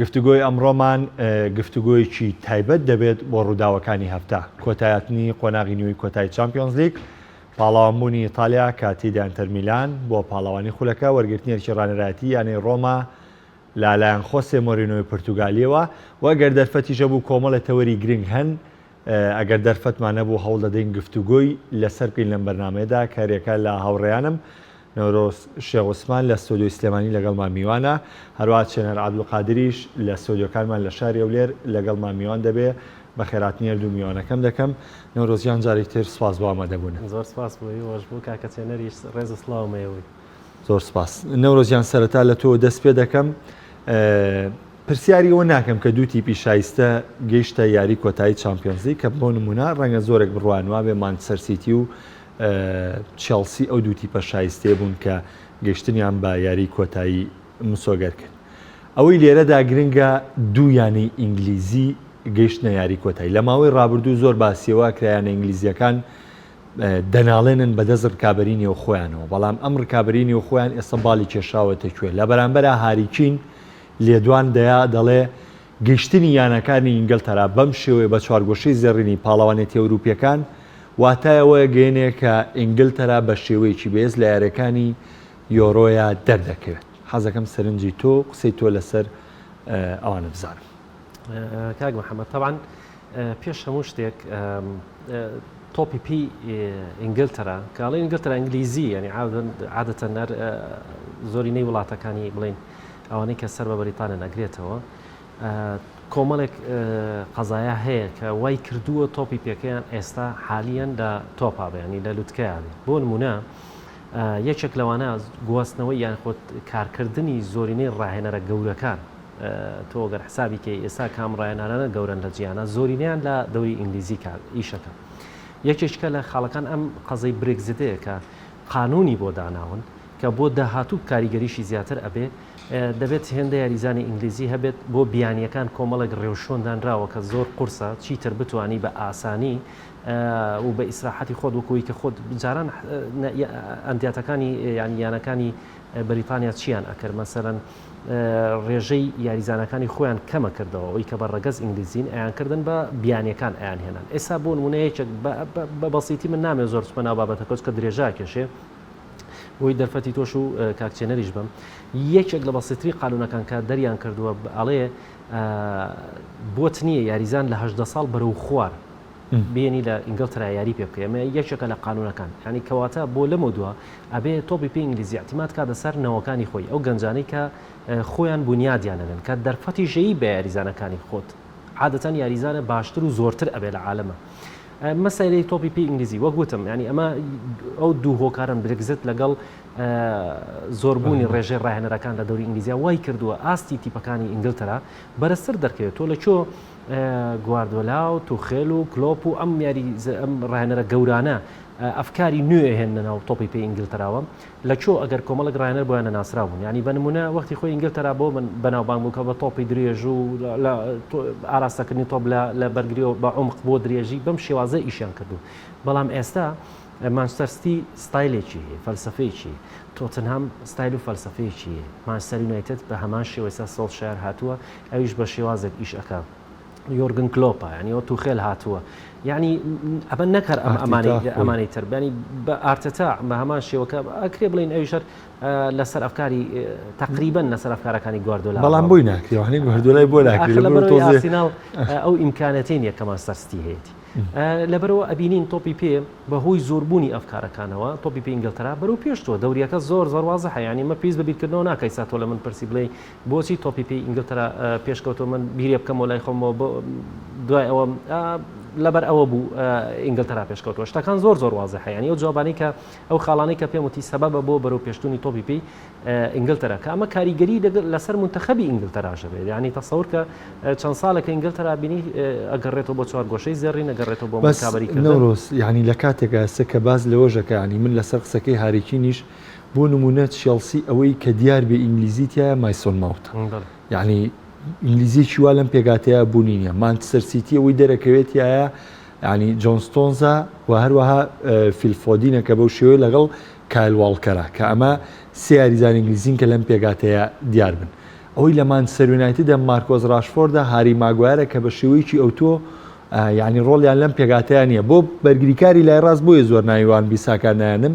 گفتوگۆی ئەمڕۆمان گفتوگۆیەکی تایبەت دەبێت بۆ ڕووداوەکانی هەفتە، کۆتایهاتنی قۆناغی نیوەی کۆتایی چامپیۆنزلیگ، پاڵەوانبوونی ئیتالیا کە تێیدا ئینتەر میلان بووە پاڵەوانی خولەکە، وەرگرتنی ئەرکی ڕانەرایەتیی یانەی ڕۆما لە لایەن خۆسێ مۆرینۆی پورتوگالییەوە و گەر دەرفەتیش هەبوو کۆمەڵێ تەوەری گرنگ هەن ئەگەر دەرفەتمان نەبوو هەوڵ دەدەین گفتوگۆی لەسەر بکەین لەم بەرنامەیەدا کە رێکە لە هاوڕێیانم نەورۆز شێخ عوسمان لە ستۆدیۆی سلێمانی لەگەڵمان میوانە هەروەها چێنار عەبدولقادریش لە ستۆدیۆکانمان لە شاری هەولێر لەگەڵمان میوان دەبێ بەخێراتنی هەردوو میوانەکەم دەکەم نەورۆز گیان جارێکی تر سوپاس بۆ ئامادەبوون. زۆر سوپاس بۆ ئێوەش بۆ کاکە چێنەریش رێز و سڵاوم ئێوەی. زۆر سوپاس نەورۆز گیان سەرەتا لە تۆوە دەست پێ دەکەم پرسیاری ئەوە ناکەم کە دوو تیپی شایستە گەیشتە یاری کۆتایی چامپیۆنزلیگ کە بۆ نموونە رەنگە زۆرێک بڕوایان وابێ مانچستەر سیتی و چێڵسی ئەو دوو تیپە شایستەیە بوون کە گەیشتنیان بە یاری کۆتایی مسۆگەر کرد ئەوەی لێرەدا گرنگە دوو یانەی ئینگلیزی گەیشتنە یاری کۆتایی لە ماوەی رابردوو زۆر باسیەوە کە یانە ئینگلیزیەکان دەناڵێنن بەدەست ڕکابی نێو خۆیانەوە بەڵام ئەم ڕکابی نێو خۆیان ئێستا باڵی کێشاوەتە کوێ لە بەرامبەر هاریکین لێدوان دەیا دەڵێ گەیشتنی یانەکانی ئینگلتەرا بەم شێوەیە بە چوارگۆشەی زێڕینی پاڵەوانێتیە ئەوروپیەکان واتای ئەوە گەیەنێ کە ئینگلتەرا بە شێوەیەکی بەێز لە یاریەکانی یۆرۆیا دەردەکەوێت. حەزەکەم سەرنجی تۆ و قسەی تۆ لەسەر ئەوانە بزانم. کاک محەمەد تەبان پێش هەموو شتێک تۆپی پی ئینگلتەرا کاڵی ئینگلتەرا ئینگلیزی ینی عادەتە نەر زۆری نەی وڵاتەکانی بڵین ئەوانەی کە سەر بە بەریتانە نەگرێتەوە کۆمەڵێک قەزایە هەیە کە وای کردووە تۆپی پێکەیان ئێستا حالیان لە تۆپا بەیانی لە لوتکەیان بۆ نمونە یەکێک لەوانە گواستنەوەی یانخۆت کارکردنی زۆرینەی ڕاهێنەرە گەورەکان تۆ گەر حسابی کەی ئێستا کام ڕایەنانانە گەورەن لە جیانە زۆرینیان لە دەوری ئینگلیزی کار ئیشەکە یەکێکە لە خاڵەکان ئەم قەزەی برێکزیتەیە کە قانونی بۆ داناون کە بۆ داهاتوو کاریگەریشی زیاتر ئەبێ دەبێت هێندە یاریزانی ئینگلیزی هەبێت بۆ بیانیەکان کۆمەڵێک ڕێوشۆندانراوە کە زۆر قورسە چیتر بتانی بە ئاسانی و بە ئیسراحەتی خۆت وەکوی کە خۆت جاران ئەندیاتەکانی یانیانەکانی بریتانیا چیان ئەکرد مەسەرەن ڕێژەی یاریزانەکانی خۆیان کەمە کردەوە ئەوەی کە بە ڕەگەز ئینگلیزین ئەیان کردن بە بیانیەکان ئەیان هێنان ئێسا بۆ نمونە یەکێک بە بەسیتی من نامێ زۆر چمە ناو بابەتەکەوت کە درێژا کێشێ بۆی دەرفەتی تۆش و کاکچێنەریش بم یەکێک لە بەسیتری قانونەکان کە دەریان کردووە ئەڵێ بۆت نییە یاریزان لە هەشدە ساڵ بەرەو خوار بێنی لە ئینگلترا یاری پێ بکەی ئەمە یەکێکە لە قانونەکان یانی کەواتە بۆ لەمەو دوا ئەبێ تۆپی پێی ئینگلیزی ئەتیمات کا دە سەر نەوەکانی خۆی ئەو گەنجانەی کە خۆیان بونیادیان نەدەن کە دەرفەتی ژەیی بە یاریزانەکانی خۆت عادەتەن یاریزانە باشتر و زۆرتر ئەبێ لە عالەمە مەسەری تۆپی پێی ئینگلیزی وەک وتم ینی ئەمە ئەو دوو هۆکارن برگزت لەگەڵ زۆربوونی ڕێژەی ڕاهێنەرەکان لە دەوری ئینگلیزیا وای کردووە ئاستی تیپەکانی ئینگلتەرا بەرزتر دەکەوێت تۆ لە چۆ گواردۆلا و توخێل و کلۆپ و ئەم یاری ئەم ڕاهێنەرە گەورانە ئەفکاری نوێ هێنە ناو تۆپی پێ ئینگلتەراوە لە چۆ ئەگەر کۆمەڵک ڕاهێنەر بۆیان نەناسرا بوون یعنی بە نمونە وەختی خۆی ئینگلتەرا بۆ من بەناوبانگ بوو کە بە تۆپی درێژ و ئاراستەکردنی تۆپ لە بەرگری و بە عمق بۆ درێژی بەم شێوازە ئیشیان کردووە بەڵام ئێستا مانچستەر ستی ستایلێکی هەیە، فەلسەفەیەکی هەیە، تۆتنهام ستایل و فەلسەفەیەکی هەیە، مانچستەر یونایتد بە هەمان شێوە ئێستا سۆڵشایەر هاتووە ئەویش بە شێوازێک ئیش ئەکا یۆرگن کلۆپە یانی ئەوە توخێل هاتووە یعنی ئەمە نەک هەر ئەم ئەمانەی ئەمانەی تر بەنی بە ئارتەتا بە هەمان شێوەکە ئەکرێ بڵین ئەویش هەر لەسەر ئەفکاری تقریبن لەسەر ئەفکارەکانی گواردۆلا بەڵام بووی ناکرێ هەنی گواردۆلای بۆ ناکرێ لە بەرەوەی ئارسیناڵ ئەو ئیمکانەتین یەکەمان سەرستی هەیەتی لەبەرئەوە ئەبینین تۆپی پێ بەهۆی زۆربوونی ئەفکارەکانەوە، تۆپی پێی ئینگلتەرا بەرەو پێش چووە، دەورییەکە زۆر زۆر وازحە، یانی ئەمە پێویست بە بیرکردنەوە ناکا ئیستا تۆ لە من پرسی بڵێی بۆچی تۆپی پێی ئینگلتەرا پێشکەوتووە من بیرێ بکەمەوە لای خۆمەوە بۆ دوای ئەوە لەبەرئەوە بوو ئینگلتەرا پێشکەوتووە، شتەکان زۆر زۆر وازحە، یانی ئەو جوابانەی کە ئەو خاڵانەی کە پێم وتی سەبەبە بۆ بەرەو پێشچوونی تۆپی پێی ئینگلتەرا کە ئەمە کاریگەری لەسەر منتەخەبی ئینگلتەراش هەبێت یانی تەسەور کە چەند ساڵێکە ئینگلتەرا بینی ئەگەڕێتەوە بۆ چوارگۆشەی زێڕین ئەگەڕێتەوە بۆ مەکابەری نەورۆز یعنی لە کاتێکا ئێستا کە باس لەوەشەکە یعنی من لەسەر قسەکەی هاری کینیش بۆ نموونە چێڵسی ئەوەی کە دیار بێ ئینگلیزی تایە مایسۆن ماوت یعنی ئینگلیزیی وا لەم پێکهاتەیە بوونی نیە مانچستەر سیتی ئەوەی دەرەکەوێتایە یانی جۆن ستۆنزە و هەروەها فیل فۆدینە کە بەو شێوەیە لەگەڵ کایل واڵکەرە کە ئەمە سێ یاریزانی ئینگلیزین کە لەم پێکهاتەیە دیار بن. ئەوەی لە مانچستەر یونایتدە مارکۆس راشفۆردە، هاری ماگوایرە کە بە شێوەیەکی ئەوتۆ یانی رۆڵیان لەم پێکهاتەیە نییە. بۆ بەرگریکاری لای راست بۆیە زۆر ناوی وان بیساکا نایەنم،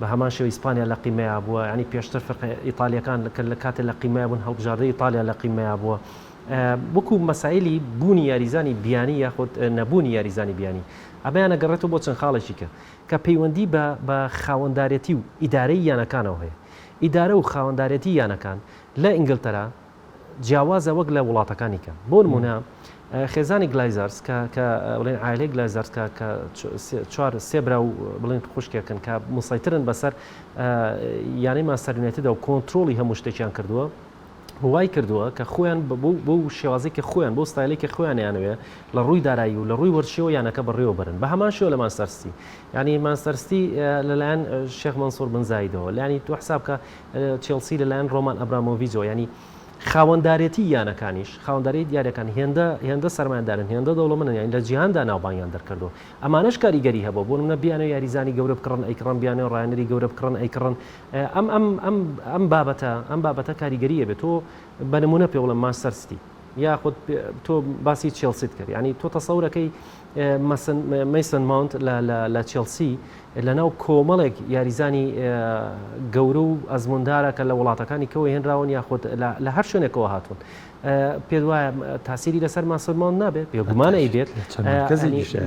بە هەمان شێوە ئیسپانیا لە قیمەیا بووە یانی پێشتر فرقە ئیتالیەکان لە کە لە کاتێ لە قیمەیا بوون هەڵبژاردەی ئیتالیا لە قیمەیا بووە وەکو مەسایلی بوونی یاریزانی بیانی یاخود نەبوونی یاریزانی بیانی ئەمەیان ئەگەڕێتەوە بۆ چەند خاڵێکی کە کە پەیوەندی بە بە خاوەندارێتی و ئیدارەی یانەکانەوە هەیە ئیدارە و خاوەندارێتی یانەکان لە ئینگلتەرا جیاوازە وەک لە وڵاتەکانی کە بۆ نمونە خێزانی گلایزارس کە کە بڵێن عالەی گلایزارس کە کە چوار سێ برا و بڵێن خوشکێکن کە مسەیترن بەسەر یانەی ماستەر یونایتدە و کۆنتترۆڵی هەموو شتێکیان کردووە وای کردووە کە خۆیان بۆ شێوازێکی خۆیان بۆ ستایلێکی خۆیانیانوێ لە ڕووی دارایی و لە ڕووی وەرشەوە یانەکە بڕێوە برن بە هەمان شێوە لە ماستەرستی ینی ماستەرستی لەلایەن شێخ منسوور بنزایدەوە لانی تو حساب کە چێڵسی لەلایەن ڕۆمان ئەبرامۆڤیجەوە یانی خاوەندارێتی یانەکانیش خاوەنداری دیارەکان هێندە هێندە سەرمایەدارن هێندە دەوڵەمەن یانی لە جیهاندا ناوبانگیان دەرکردو ئەمانەش کاریگەری هەبوو بۆ منە بیانە یاریزانی گەورە بکڕن ئەیکڕن بیانە ڕایانەری گەورە بکڕن ئەیکڕن ئەم ئەم ئەم ئەم بابەتە ئەم بابەتە کاریگەریە بێت تۆ بە نمونە پێ بڵم ماستەرستی یاخود تۆ باسی چێڵسیت کرد ینی تۆ تەسەورەکەی مەیسن ماونت لە چێڵسی لەناو کۆمەڵێک یاریزانی گەورە و ئەزموندارە کە لە وڵاتەکانی کەوە هێنراون یاخود لە هەر شوێنێکەوە هاتوون پێ وایە تاسیری لەسەر ماسەرمان نابێ بێگومانەی بێت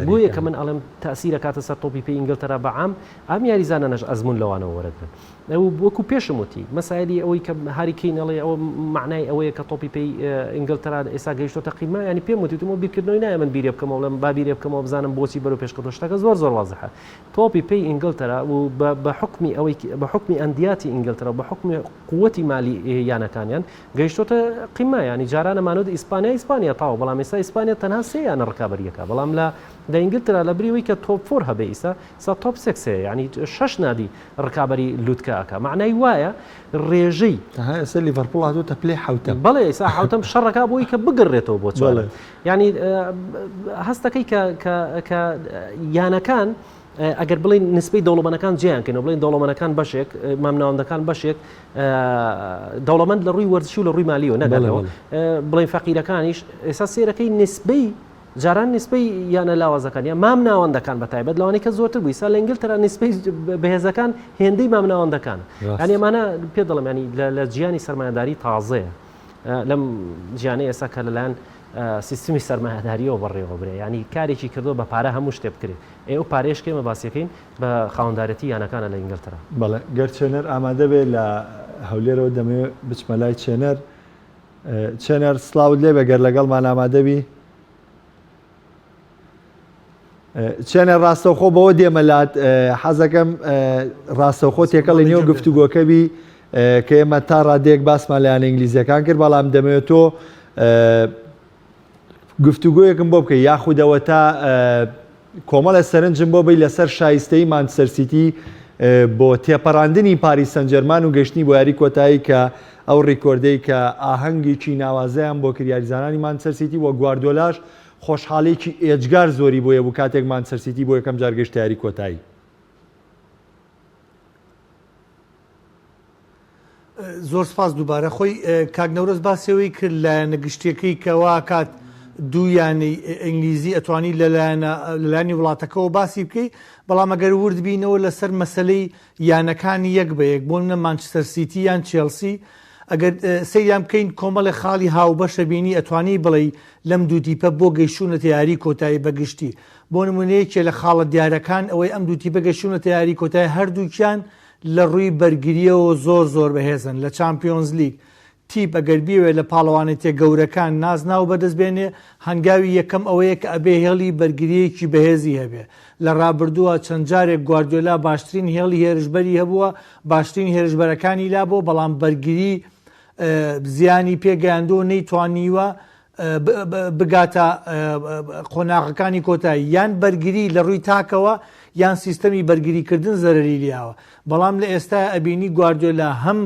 بۆ یەکە من ئەڵم تاسیرە کاتە سەر تۆپی پێ ئینگلتەرا بەعام ئەم یاریزانانەش ئەزمون لەوانەوە وەرەگرن وەکو پێشم وتی مەسایلی ئەوەی کە هاری کین ئەڵێ ئەوە مەعنای ئەوەیە کە تۆپی پێی ئینگلتەرا ئێستا گەیشتۆتە قیمە یانی پێم وتی وتم وە بیرکردنەوەی نایە من بیرێ بکەمەوە بڵێم با بیرێ بکەمەوە بزانم بۆچی بەرەو پێش کەوتووە شتەکە زۆر زۆر وازحە تۆپی پێی ئینگلتەرا و بە حوکمی ئەوەی بە حوکمی ئەندیاتی ئینگلتەرا و بە حوکمی قووتی مالی یانەکانیان گەیشتۆتە قیمە یانی جارانە مانۆد ئیسپانیا ئیسپانیا تاوە بەڵام ئێستا ئیسپانیا تەنها سێ یانە ڕکابەریەکە بەڵام لە لە ئینگلتەرا لە بری ئەوەی کە تۆپ فۆر هەبێ ئیستا سا تۆپ سێکس هەیە یانی شەش نادی ڕکابەری لوتکە ئەکا مەعنای وایە ڕێژەی. تەنها ئێستا لیڤەرپوڵ هاتۆتە پلەی حەوتەم. بەڵێ ئێستا حەوتەم شەڕ ئەکا بۆی کە بگەڕێتەوە بۆ چوارەم. بەڵێ. یانی هەست ئەکەی کە کە کە یانەکان ئەگەر بڵێن نسبەی دەوڵەمەنەکان جێیان کەن و بڵێن دەوڵەمەنەکان بەشێک مامناوەندەکان بەشێک دەوڵەمەند لە ڕووی وەرزشی و لە ڕووی مالیەوە نەگەڵەوە بڵێن فەقیرەکانیش ئێستا سێرەکەی نسبەی جاران نیسبەی یانە لاوازەکان یان مامناوەندەکان بە تایبەت لەوانی کە زۆرتر بوو ئیستا لە ئینگلتەرا نیسبەی بەهێزەکان هێندەی مامناوەندەکانە یانی ئەمانە پێ دەڵێم ینی لە جیانی سەرمایەداری تازەیە لەم جیانەی ئێستا کە لەلایەن سیستمی سەرمایهداریەوە بەڕێوە برێ ینی کارێکی کردو بە پارە هەموو شتێ بکرێت ئێ و پارێش کێمە باسیەکەین بە خاوەندارەتی یانەکانە لە ئینگلتەرا بەڵێ گەر چێنەر ئامادەبێ لە هەولێرەوە دەمەوێت بچمە لای چێنەر چێنەر سڵاوت لێبێ گەر لەگەڵمان ئامادەبی. چێنەر ڕاستەوخۆ بەوە دێمە لات حەزەکەم ڕاستەوخۆ تێکەڵی نێو گفتوگۆکەبی کە ئێمە تا ڕادێک باسمان لایەن ئینگلیزیەکان کرد بەڵام دەمەوێت تۆ گفتوگۆیەکم بۆ بکەی یاخود ئەوەتا کۆمەڵێ سەرنجم بۆ بی لەسەر شایستەی مانچستەر سیتی بۆ تێپەڕاندنی پاریس سەنجەرمان و گەشتنی بۆ یاری کۆتایی کە ئەو ڕیکۆردەی کە ئاهەنگێکی ناوازەیان بۆ کرد یاریزانانی مانچستەر سیتی و گواردیۆلاش خۆشحاڵیەکی ئێجگار زۆری بۆی هەبوو کاتێک مانچستەر سیتی بۆ یەکەم جار گەشتە یاری کۆتایی. زۆر سپاس دووبارە خۆی کاک نەورۆز باسەوەی کرد لایەنە گشتیەکەی کەواکات دوو یانەی ئینگلیزی ئەتوانی لەلایانی وڵاتەکەەوە باسی بکەی بەڵام ئەگەر ورد بینەوە لەسەر مەسلەی یانەکانی یەک بە یەک بۆ منە مانچستەر سیتی یان چێلسی ئەگەر سەیان بکەین کۆمەڵی خاڵی هاوبەشە بینی ئەتوانی بڵێ لەم دوو دیپە بۆ گەیشتونەتە یاری کۆتایی بەگشتی بۆ نموونە یەکێ لە خاڵە دیارەکان ئەوەی ئەم دوو تیپە گەشتوونەتە یاری کۆتای هەردووکیان لە ڕووی بەرگرییەوە زۆر زۆر بەهێزن لە چامپیۆنزلیگ تیپ ئەگەر بیەوێ لە پاڵەوانێتیە گەورەکان نازناو بەدەست بێنێ هەنگاوی یەکەم ئەوەیە کە ئەبێ هێڵی بەرگرییەکی بەهێزی هەبێ لە ڕابردووە چەند جارێک گواردیۆلا باشترین هێڵی هێرشبەری هەبووە باشترین هێرشبەرەکانی لابووە بەڵام بەرگری زیانی پێگەیاندووە نەیتوانیوە بگاتە قۆناغەکانی کۆتایی یان بەرگری لە ڕووی تاکەوە یان سیستەمی بەرگری کردن زەرری لیاوە بەڵام لە ئێستا ئەبینی گواردۆلا هەم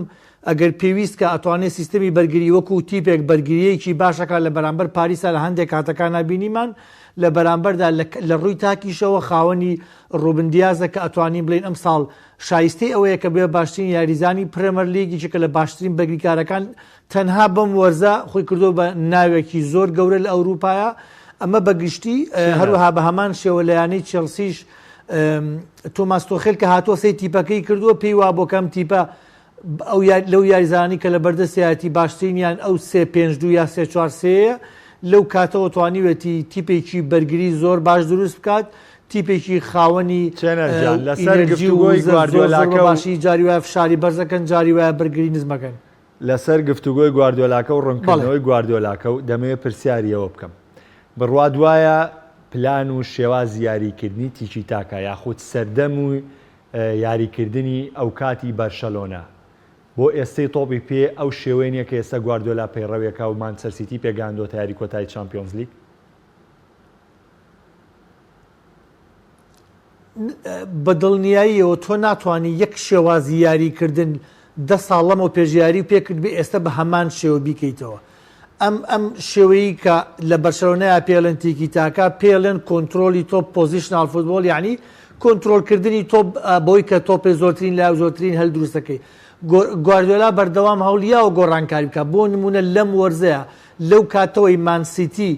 ئەگەر پێویست کە ئەتوانێت سیستەمی بەرگری وەکو تیپێک بەرگریەکی باشەکە لە بەرامبەر پاریسا لە هەندێک کاتەکان نبینیمان لە بەرامبەردا لە ڕووی تاکیشەوە خاوەنی ڕوبندیازە کە ئەتوانین بڵین ئەم ساڵ شایستەی ئەوەیە کە بێ باشترین یاریزانی پرەمەر لیگیی کە لە باشترین بەگریکارەکان تەنها بەم وەرزە خۆی کردووە بە ناوێکی زۆر گەورە لە ئەوروپایا ئەمە بە گشتی هەروەها بە هەمان شێوە لە یانەی چێڵسیش تۆماس تۆخێل کە هاتووە سەی تیپەکەی کردووە پێی وا بۆ کەم تیپە ئەو لەو یاریزانی کە لە بەردەسیایەتی باشترینیان ئەو سێ پێنج دو یا سێ چوار سەیە لەو کاتەوە توانیوێتی تیپێکی بەرگری زۆر باش دروست بکات تیپێکی خاوەنی لەسەر گفتوگۆی گواردیۆلاکە باشی جاری وایە فشاری بەرزەکەن جاری وایە بەرگری نزمەکەن لەسەر گفتوگۆی گواردیۆلاکە و ڕوونکردنەوەی گواردیۆلاکە و دەمەوێت پرسیاری ئەوە بکەم، بڕوات وایە پلان و شێوازی یاریکردنی تیکی تاکا یاخود سەردەم و یاریکردنی ئەوکاتی بەرشەلۆنە بۆ ئێستەی تۆپی پێ ئەو شێوەیە نییە کە ئێستا گواردیۆلا پەیڕەویەکە و مانچستەر سیتی پێگەیاندۆتە یاری کۆتایی چامپیۆنزلیگ؟ بە دڵنیاییەوە تۆ ناتوانی یەک شێوازی یاریکردن دە ساڵ لەمەو پێش یاری و پێکردبێ ئێستا بە هەمان شێوە بیکەیتەوە ئەم ئەم شێوەیی کە لە بەرشەونەیە پێڵێن تیکی تاکە پێڵێن کۆنتترۆلی تۆپ پۆزیشنال فوتبۆل یعنی کۆنتترۆلکردنی تۆپ بۆی کە تۆپێ زۆرترین لا زۆرترین هەل دروستەکەی گواردۆلا بەردەوام هەولیاوە گۆڕانکاری بکە بۆ نمونە لەم وەرزەیە لەو کاتەوەی مانسیتی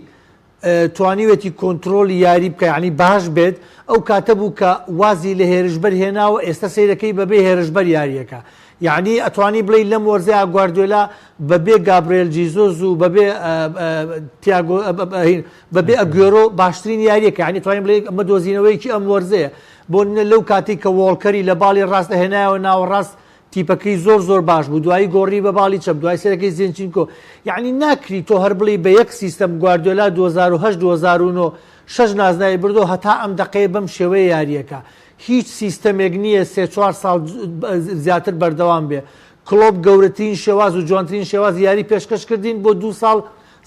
توانیوێتی کۆنترۆڵی یاری بکە یانی باش بێت ئەو کاتە بوو کە وازی لە هێرشبەر هێناوە ئێستا سەیرەکەی بەبێ هێرشبەر یاریەکە یانی ئەتوانی بڵێ لەم وەرزەیە گواردیۆلا بەبێ گابرێل جیزۆز و بەبێ تیاگۆ بەبێ ئەگوێرۆ باشترین یاریەکە ینی توانین بڵێ ئەمە دۆزینەوەیەکی ئەم وەرزەیە بۆ لەو کاتی کە وۆڵکەری لە باڵی ڕاستە هێنایەوە ناوەڕاست تیپەکەی زۆر زۆر باش بوو دوایی گۆڕی بە باڵی چەپ دوای سەرەکەی زینچینکۆ یعنی ناکری تۆ هەر بڵی بە یەک سیستەم گواردیۆلا 2008 2009 شەش نازناوی بردەوە هەتا ئەم دەقەیە بەم شێوەیە یارییەکە هیچ سیستەمێک نییە سێ چوار ساڵ زیاتر بەردەوام بێ کڵۆپ گەورەترین شێواز و جوانترین شێواز یاری پێشکەش کردین بۆ دو ساڵ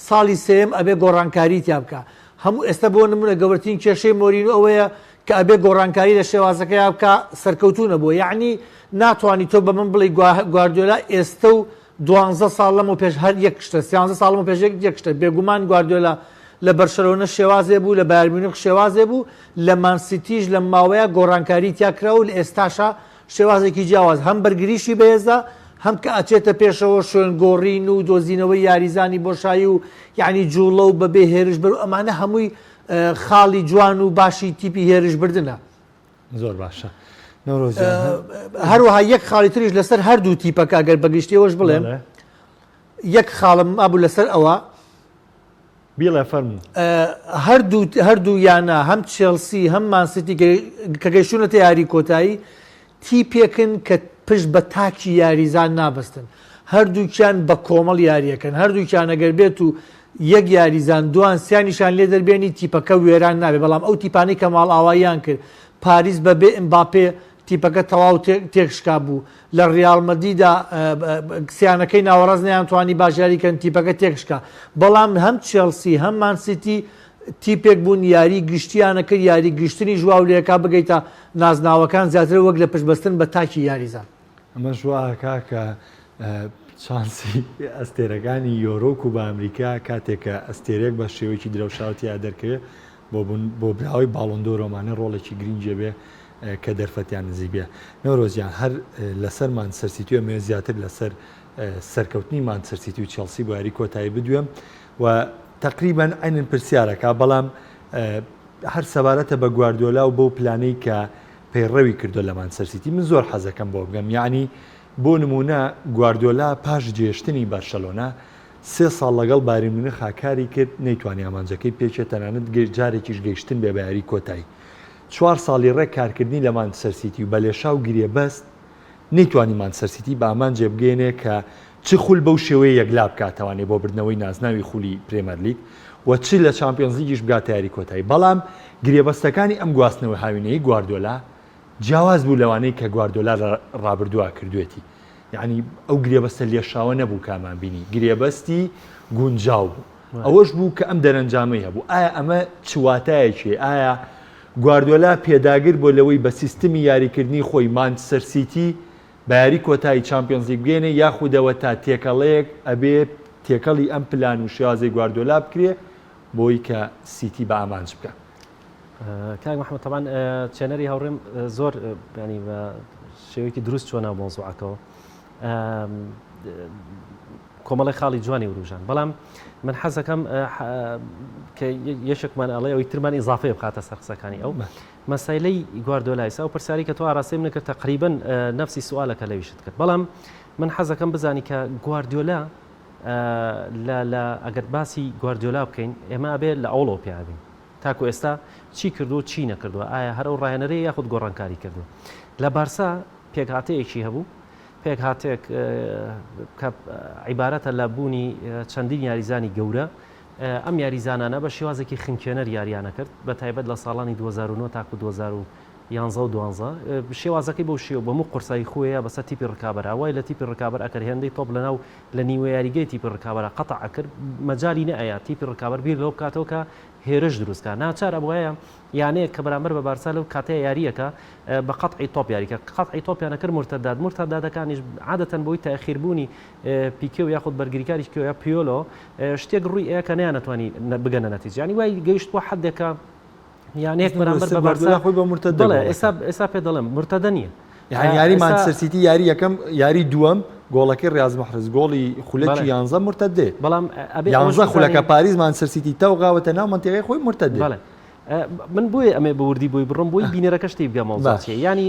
ساڵی سێم ئەبێ گۆڕانکاری تیا بکە هەموو ئێستا بۆ نمونە گەورەترین کێشەی مۆرینو ئەوەیە کە ئەبێ گۆڕانکاری لە شێوازەکەیا بکا سەرکەوتوو نەبووە یەعنی ناتوانی تۆ بە من بڵێی گواردیۆلا ئێستە و دوانزە ساڵ لەمەو پێش هەر یەک شتە سیانزە ساڵ لەمەو پێش یەک شتە بێگومان گواردیۆلا لە بەرشەلۆنە شێوازێ بوو لە بایرن میونخ شێوازێ بوو لە مان سیتیش لەم ماوەیە گۆڕانکاری تیا کرا و لە ئێستاشا شێوازێکی جیاواز هەم بەرگریشی بەهێزە هەم کە ئەچێتە پێشەوە شوێنگۆڕین و دۆزینەوەی یاریزانی بۆشایی و یەعنی جووڵە و بەبێ هێرش بەرو ئەمانە هەمووی خاڵی جوان و باشی تیپی هێرش بردنە زۆر باشە هەروەها یەک خاڵی تریش لەسەر هەردوو تیپەکە ئەگەر بەگشتیەوەش بڵێم یەک خاڵم ئابوو لەسەر ئەوە بیڵێ فەرم هەردوو هەردوو یانە هەم چێلسی هەم ماسیتی کە گەشتونەتە یاری کۆتایی تیپێکن کە پشت بە تاکی یاریزان نابەستن، هەردووکیان بە کۆمەڵ یارییەکەن، هەردووکیان ئەگەر بێت و یەک یاریزان دووان سێان نیشان لێ دەربێنی تیپەکە وێران نابێت، بەڵام ئەو تیپانەی کە ماڵئاواییان کرد پاریس بە بێ ئمباپێ تیپەکە تەواو تێک شکا بوو، لە ریال مەدیدا سیانەکەی ناوەڕاست نەیانتوانی باش یاری کەن تیپەکە تێک شکا، بەڵام هەم چێڵسی هەم مان سیتی تیپێک بوون یاری گشتییانە کرد، یاری گشتنیش واو لێکا بگەیتە نازناوەکان زیاتر وەک لە پشتبەستن بە تاکی یاریزان. ئەمەش وا ئەکا کە چانسی ئەستێرەکانی یۆرۆ و کووبا ئەمریکا کاتێک کە ئەستێرەیەک بە شێوەیەکی درەوشاو تیا دەرکەوێ بۆ بوون بۆ براوەی باڵۆن دۆر ئەمانە ڕۆڵێکی گرینگی هەبێ کە دەرفەتیان نزیک بێ. نەورۆز گیان هەر لەسەر مانچستەر سیتی و ئەمەوێ زیاتر لەسەر سەرکەوتنی مانچستەر سیتی و چێڵسی بۆ یاری کۆتایی بدوێم، و تەقریبەن عەینەن پرسیارەکە بەڵام هەر سەبارەتە بە گواردیۆلا و بەو پلانەی کە پەیڕەوی کردوە لە مانچستەر سیتی من زۆر حەزەکەم بۆ بگەم یانی بۆ نمونە گواردیۆلا پاش جێشتنی بەرشەلۆنە سێ ساڵ لەگەڵ بایرن میونخ کاری کرد نەیتوانی ئامانجەکەی پێچێت تەنانەت گەشت جارێکیش گەیشتن بێ بە یاری کۆتایی چوار ساڵی ڕێک کارکردنی لە مانچستەر سیتی و بە لێشاو گرێبەست نەیتوانی مانچستەر سیتی بە ئامانجێ بگەینێ کە چ خول بەو شێوەیە یەکلا بکات توانێت بۆ بردنەوەی نازناوی خولی پرێمەرلیگ و چ لە چامپیۆنزلیگیش بگاتە یاری کۆتایی، بەڵام گرێبەستەکانی ئەم گواستنەوە هاوینەی گواردیۆلا جیاواز بوو لەوانەی کە گواردیۆلا لە رابردووا کردووێتی، یەعنی ئەو گرێبەستە لێشاوە نەبوو کە ئەمان بینی، گرێبەستی گونجاو بوو، ئەوەش بوو کە ئەم دەرەنجامەی هەبوو، ئایا ئەمە چ واتایەکی هەیە، ئایا گواردیۆلا پێداگر بووە لەوەی بە سیستمی یاریکردنی خۆی مانچستەر سیتی بە یاری کۆتایی چامپیۆنز لیگ بگەینێ یاخودەوە تا تێکەڵەیەک ئەبێ تێکەڵی ئەم پلان و شێوازەی گواردیۆلا بکرێ بۆی کە سیتی بە ئامانج بکا. کاک محمد تەبان چێنەری هاوڕێم زۆر ینی بە شێوەیەکی دروست چۆنا مۆزوعەکەەوە کۆمەڵی خاڵی جوانی وروژان بەڵام من حەزەکەم کە یەشێکمان ئەڵێ ئەوی ترمان ئیزافەیە بخاتە سەر قسەکانی ئەو مەسەیلەی گواردۆلایس ئەو پرسیارەی کە تۆ ئاراستەی منت کرد تەقریبەن نەفسی سوئالەکە لەویشت کرد بەڵام من حەزەکەم بزانی کە گواردیۆلا لە لە ئەگەر باسی گواردیۆلا بکەین ئێمە ئەبێ لە ئەوڵەوە پێ ئەبین تاکو ئێستا چی کردو چی نەکردووە ئایا هەر ئەو ڕایەنەرەیە یاخود گۆڕانکاری کردووە لە بارسا پێکهاتەیەکی هەبوو پێکهاتێک کە عیبارەتە لە بوونی چەندین یاریزانی گەورە ئەم یاریزانانە بە شێوازێکی خنکێنەر یاریان ئەکرد بە تایبەت لە ساڵانی دوو هەزار و نۆ تاکوو دوو هەزار و یانزە و دوانزە شێوازەکەی بەو شێوە بووە موو قورسایی خوێیە بەسەر تیپی ڕکابەرا وای لە تیپی ڕکابەر ئەکرد هێندەی تۆپ لە ناو لە نیوە یاریگەی تیپی ڕکابەرا قەتع ئەکرد مەجالی نەئەیا تیپی ڕکابەر بیر لەوە بکاتەوە کە هێرش دروست کا ناچار ئەبوایە یانەیەک کە بەرامبەر بە بارسا لەو کاتەیە یارییەکە بە قەتعی تۆپ یاریکە قەتعی تۆپیان ئەکرد مورتەدات مورتەداتەکانیش عادەتەن بۆی تاخیر بوونی پیکێ و یاخود بەرگریکاریی کۆیە پیۆلۆ شتێک ڕووی ئەیە کە نەیانەتوانی بگەنە نەتیجە یانی وای گەیشتووە حدێکە یانەیەک بەرامبەر بە بارسا خۆی بە مرتدە دەڵێ ئێستا ئێستا پێ دەڵێم مرتدە نییە یعنی یاری مانچستر سیتی یاری یەکەم یاری دووەم گۆڵەکەی ڕاز محرز گۆڵی خولەکی یانزە مرتدێ بەڵام ئەبێ یانزە خولەکە پاریز مانچستر سیتی تەوغاوەتە ناو منتیقی خۆی مرتدێ بەڵێ من بۆیە ئەمێ بە وردی بۆی بڕم بۆی بینەرەکە شتی بگەمەوە زاچێ ینی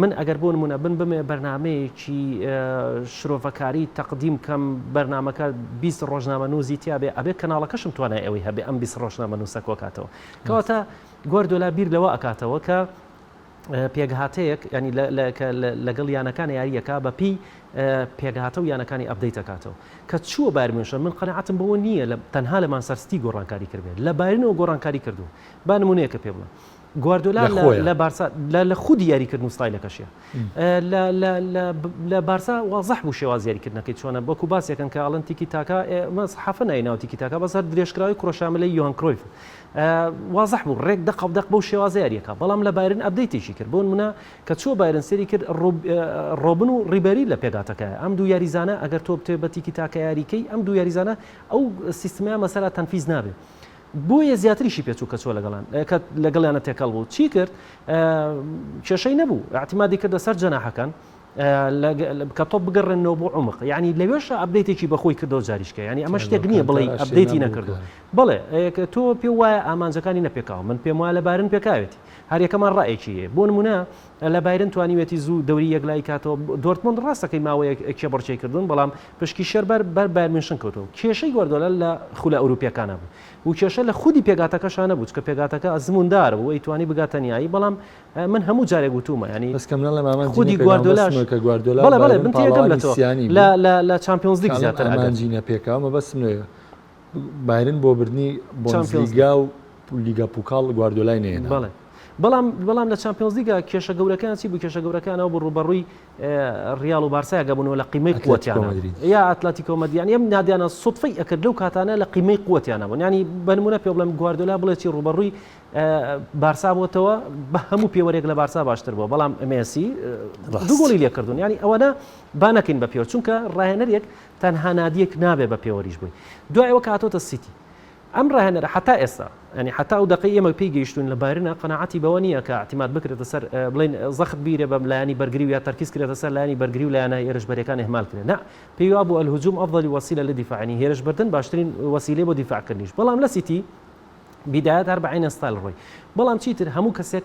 من ئەگەر بۆ نموونە بن بمێ بەرنامەیەکی شرۆڤەکاری تەقدیم کەم بەرنامەکە بیست ڕۆژنامە نووزی تیاابێ ئەبێ کەناڵەکەشم توانای ئەوەی هەبێ ئەم بیست ڕۆژنامە نووسە کۆکاتەوە کەواتە گۆردۆلا بیر لەوە ئەکاتەوە کە پێگهاتەیەک ینی لەگەڵ یانەکان یاریەکە بەپی پێگهاتە و یانەکانی ئەبدەیت دەکاتەوە کە چووە بارمێشە من قەنەعاتم بەوە نییە لە تەنها لە مانسەرستی گۆڕانکاری کردێت لە بارنەوە گۆڕانکاری کردو با نمونەیەکە پێ بڵێ گواردۆلا لە بارسا لە خودی یاریکردن و ستایلەکەشیە لە بارسا وازح بوو شێواز یاریکردنەکەی چۆنە وەکو باسێکن کە ئەڵەن تیکی تاکە مەس حەفە نایناوە تیکی تاکە بەسەر درێژکراوی کرۆشاملەی یوان کرۆیف وازح بوو ڕێک دە قەودەق بەو شێوازە یاریەکە بەڵام لە بایرن ئەبدەیتێکی کرد بۆن منە کە چوە بایرن سری کرد ڕۆبن و ڕیبەری لە پێگاتەکە ئەم دوو یاریزانە ئەگەر تۆ بتێ بە تیکی تاکە یاریکەی ئەم دوو یاریزانە ئەو سیستمیان مەسەرا تەنفیز نابێت بۆیە زیاتریشی پێچ و کەچ و لەگەڵیان کە لەگەڵیانە تێکەڵ بوو چی کرد کێشەی نەبوو ئاعتمادی کردە سەر جەناحەکان کە تۆ بگەڕێنەوە بۆ عمق ینی لەوێش ئەبدەیتێکی بەخۆی کردەوە جاریشکە ینی ئەمە شتێک نییە بڵێ ئەبدەیتی نەکردو بڵێ تۆ پێ وایە ئامانجەکانی نەپێکاو من پێم وایە لە بارن پێکاوێتی هەریەکەمان ڕایەکی بۆ نمونە لە بایرن توانیوێتی زوو دەوری یەکلای کاتەوە دۆرتمونند ڕاستەکەی ماوەیە کێبڕچەی کردوون بەڵام پشکی شێر بەر بەر بایرن میونشن کەوتووە. کێشەی گواردیۆلا لە خولە ئەوروپییەکانە بوو و کێشە لە خودی پێکهاتەکەشا نەبوو، چونکە پێکهاتەکە ئەزمووندار بوو، ئەیتوانی بگاتە نیایی، بەڵام من هەموو جارێک وتوومە یانی بەس کەم نەڵێم ئامانجی نە خودی پێکام بەسمە گواردیۆلاش کە گواردیۆلا و بەڵێ بەڵێ بایرن من تێگەم لە پاڵەوانی تۆ سیانی لە بوون. لە لە چامپیۆنز لیگ کاڵێم زیاتر ئەگەر ئامانجی نە پێکا مەبەستم لێیە بایرن بۆ بردنی چامپیۆنز لیگ. بۆندسلیگا و لیگا پوکاڵ گواردیۆلای نەهێناوە. بەڵێ بەڵام بەڵام لە چامپیۆنز لیگا کێشە گەورەکەیان چی بوو کێشە گەورەکەیان ئەوە بوو ڕووبەڕووی ڕیاڵ و بارسای ئەگەبوونەوە لە قیمەی قوتیانە یا ئەتلەتیکۆ مەدرید یانی ئەم نادیانە سوتفەی ئەکرد لەو کاتانە لە قیمەی قوتیانە بوون ینی بەنمونە پێ بڵێم گواردۆلا بڵێکی ڕوبەڕووی بارسا بۆتەوە بە هەموو پێوەرێک لە بارسا باشتر بووە بەڵام ئەمێسی دوگۆڵی لێکردون ینی ئەوەنە با نەکەین بە پێوە چونکە ڕاهێنەرێک تەنها نادیەک نابێ بە پێوەریش بووی دوایەوە کاتۆتە سیتی ئەم ڕاهێنەرە هەتا ئێستا، یانی هەتا ئەو دەقەی ئێمە پێی گەیشتووین لە بایرنە، قەناعەتی بەوە نییە کە ئیعتیماد بکرێتە سەر، بڵێین زەخت بیرێ بە لایەنی بەرگری و یا تەرکیز کرێتە سەر لایەنی بەرگری و لایەنە هێرشبەرەکان ئیهمال کرێ. نا، پێی وابوو الهجوم افضل وسیلە للدفاع، یانی هێرشبردن باشترین وسیلەیە بۆ دیفاعکردنیش. بەڵام لە سیتی، بداية هەر بە عەین ستایل ڕۆی. بەڵام چیتر هەموو کەسێک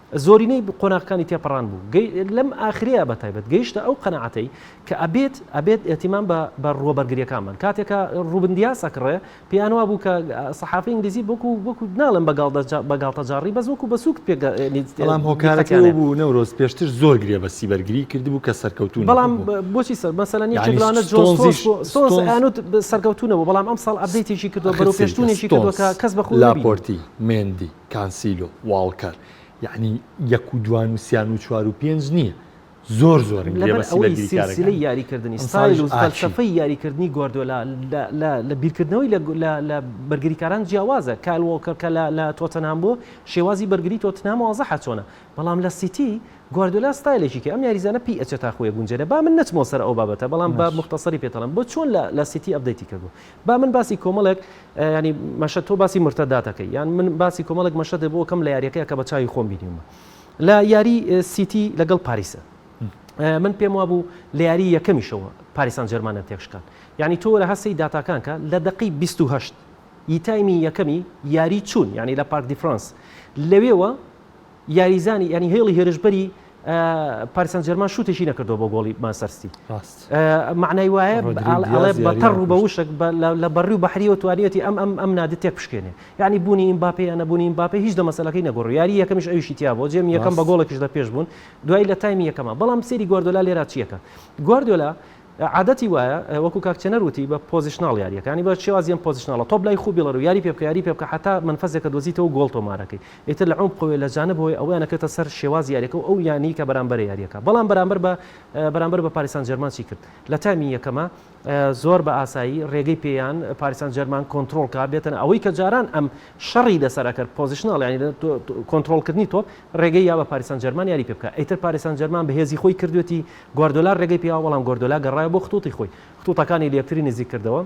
زۆرینەی قۆناغەکانی تێپەڕان بوو گەی لەم ئاخرەیە بە تایبەت گەیشتە ئەو قەناعەتەی کە ئەبێت ئەبێت ئێتیمام بە بە ڕووە بەرگریەکان بن کاتێک کە ڕووبن دیاس ئەکڕێ پێیان وا بوو کە سەحافەی ئینگلیزی بۆکو وەکو ناڵێن بە گاڵدە جا بە گاڵتە جاڕی بەس وەکو بە سووک پێگە بەڵام هۆکارەکەی ئەوە بوو نەورۆز پێشتر زۆر گرێ بە سیبەرگری کردبوو کە سەرکەوتوو نەبوو بەڵام بۆچی سەر مەسەلەن یەکێک یانی لەوانە جۆن ستۆنزیش ستۆنز بوو ستۆنز ستۆنز ئەیانوت سەرکەوتوو نەبوو بەڵام ئەمساڵ ئەپدەیتێکی کردووە بەرەو ئاخر چیکە پێشچوونێکی کردووە کە ستۆنز کەس بە خۆی نەبینی لاپۆرتی مێندی کانسیلۆ، واڵکەر یانی یەک و دوان و سیان و چوار و پێنج نیە زۆر زۆرن گرێبەستی بەرگریکارەکانی ئەمساڵیش ئاچی. لەبەرئەوەی سیلسیلەی یاریکردنی ستایل و فەلسەفەی یاریکردنی گواردیۆلا لە بیرکردنەوەی لە بەرگریکاران جیاوازە، کایل واڵکەر کە لە تۆتنهام بووە شێوازی بەرگری تۆتنهام وازحە چۆنە، بەڵام لە سیتی گواردیۆلا ستایلێکی کە ئەم یاریزانە پێی ئەچێت تاخۆیە گونجێنە، با من نەچمەوە سەر ئەو بابەتە بەڵام با موختەسەری پێتەڵێم بۆ چۆن لە سیتی ئەپدەیتی کردووە با من باسی کۆمەڵێک یانی مەشە تۆ باسی مرتەدات دەکەی یان من باسی کۆمەڵێک مەشە دەبوو بۆ کەم لە یاریەکە کە بە چاوی خۆم بینیمە لە یاری سیتی لەگەڵ پاریسە من پێم وابوو لە یاری یەکەمیشەوە پاریسان جەرمانە تێکشکان یعنی تۆ لە هەستی داتاکانکە لە دقی 28 یتایمی یەکەمی یاری چوون یعنی لە پارک دیفرانس لەوێوە یاریزانی یانی هێڵی هێرشبەری پاریس سان جێرمان شوتێکی نەکردەوە بۆ گۆڵی مانچستەر سیتی ڕاست ئە، معنای وایە ڕۆدریگو بە- ئاڵ- ئەڵێ دیاز بە یاری تەڕ و بە نەکرد. وشک بە- لە- لە بەڕی و بەحریەوە توانیوەتی ئەم ئەم ئەم نادە تێک بشکێنێ یعنی بوونی ئیمباپێ یان نەبوونی ئیمباپێ هیچ لە مەسەلەکەی نەگۆڕی یاری یەکەمیش ئەویشی تیا بووە جێم یەکەم بە ڕاست. گۆڵێکیش لە پێش بوون دوای لە تایمی یەکەمە بەڵام سەیری گواردۆلا لێرا چیەکە گواردۆلا عادەتی وایە وەکو کاک چێنەر وتی بە پۆزیشناڵ یاریەکە یانی بە شێوازی ئەم پۆزیشناڵە تۆپ لای خوو بیڵەرو یاری پێبکە یاری پێبکە حەتا مەنفەزێکە دۆزیتەوەو گۆڵ تۆمارەکەی ئیتر لە عومقەوەی لە جانبەوەی ئەوەیان ئەکرێتە سەر شێوازی یاریەکەو ئەو یانەی کە بەرامبەرە یاریەکە بەڵام بەرامبەر بە بەرامبەر بە پاریس سان جێرمان چی کرد لە تایمی یەکەما زۆر بە ئاسایی رێگەی پێیان پاریس سان جێرمان کۆنترۆڵ کا بێتەنە ئەوەی کە جاران ئەم شەڕی لەسەر ئەکەر پۆزیشناڵ یانی کۆنترۆڵ کردنی تۆپ رێگەی یا بە پاریس سان جێرمان یاری پێبکە ئیتر پاریس سان جێرمان بەهێزی خۆی کردوێتی گواردۆلا رێگەی پیاوە، بەڵام گواردۆلا گەڕایەوە بۆ خطوطی خۆی، خطوطەکانی لەیەکتری نزیک کردەوە،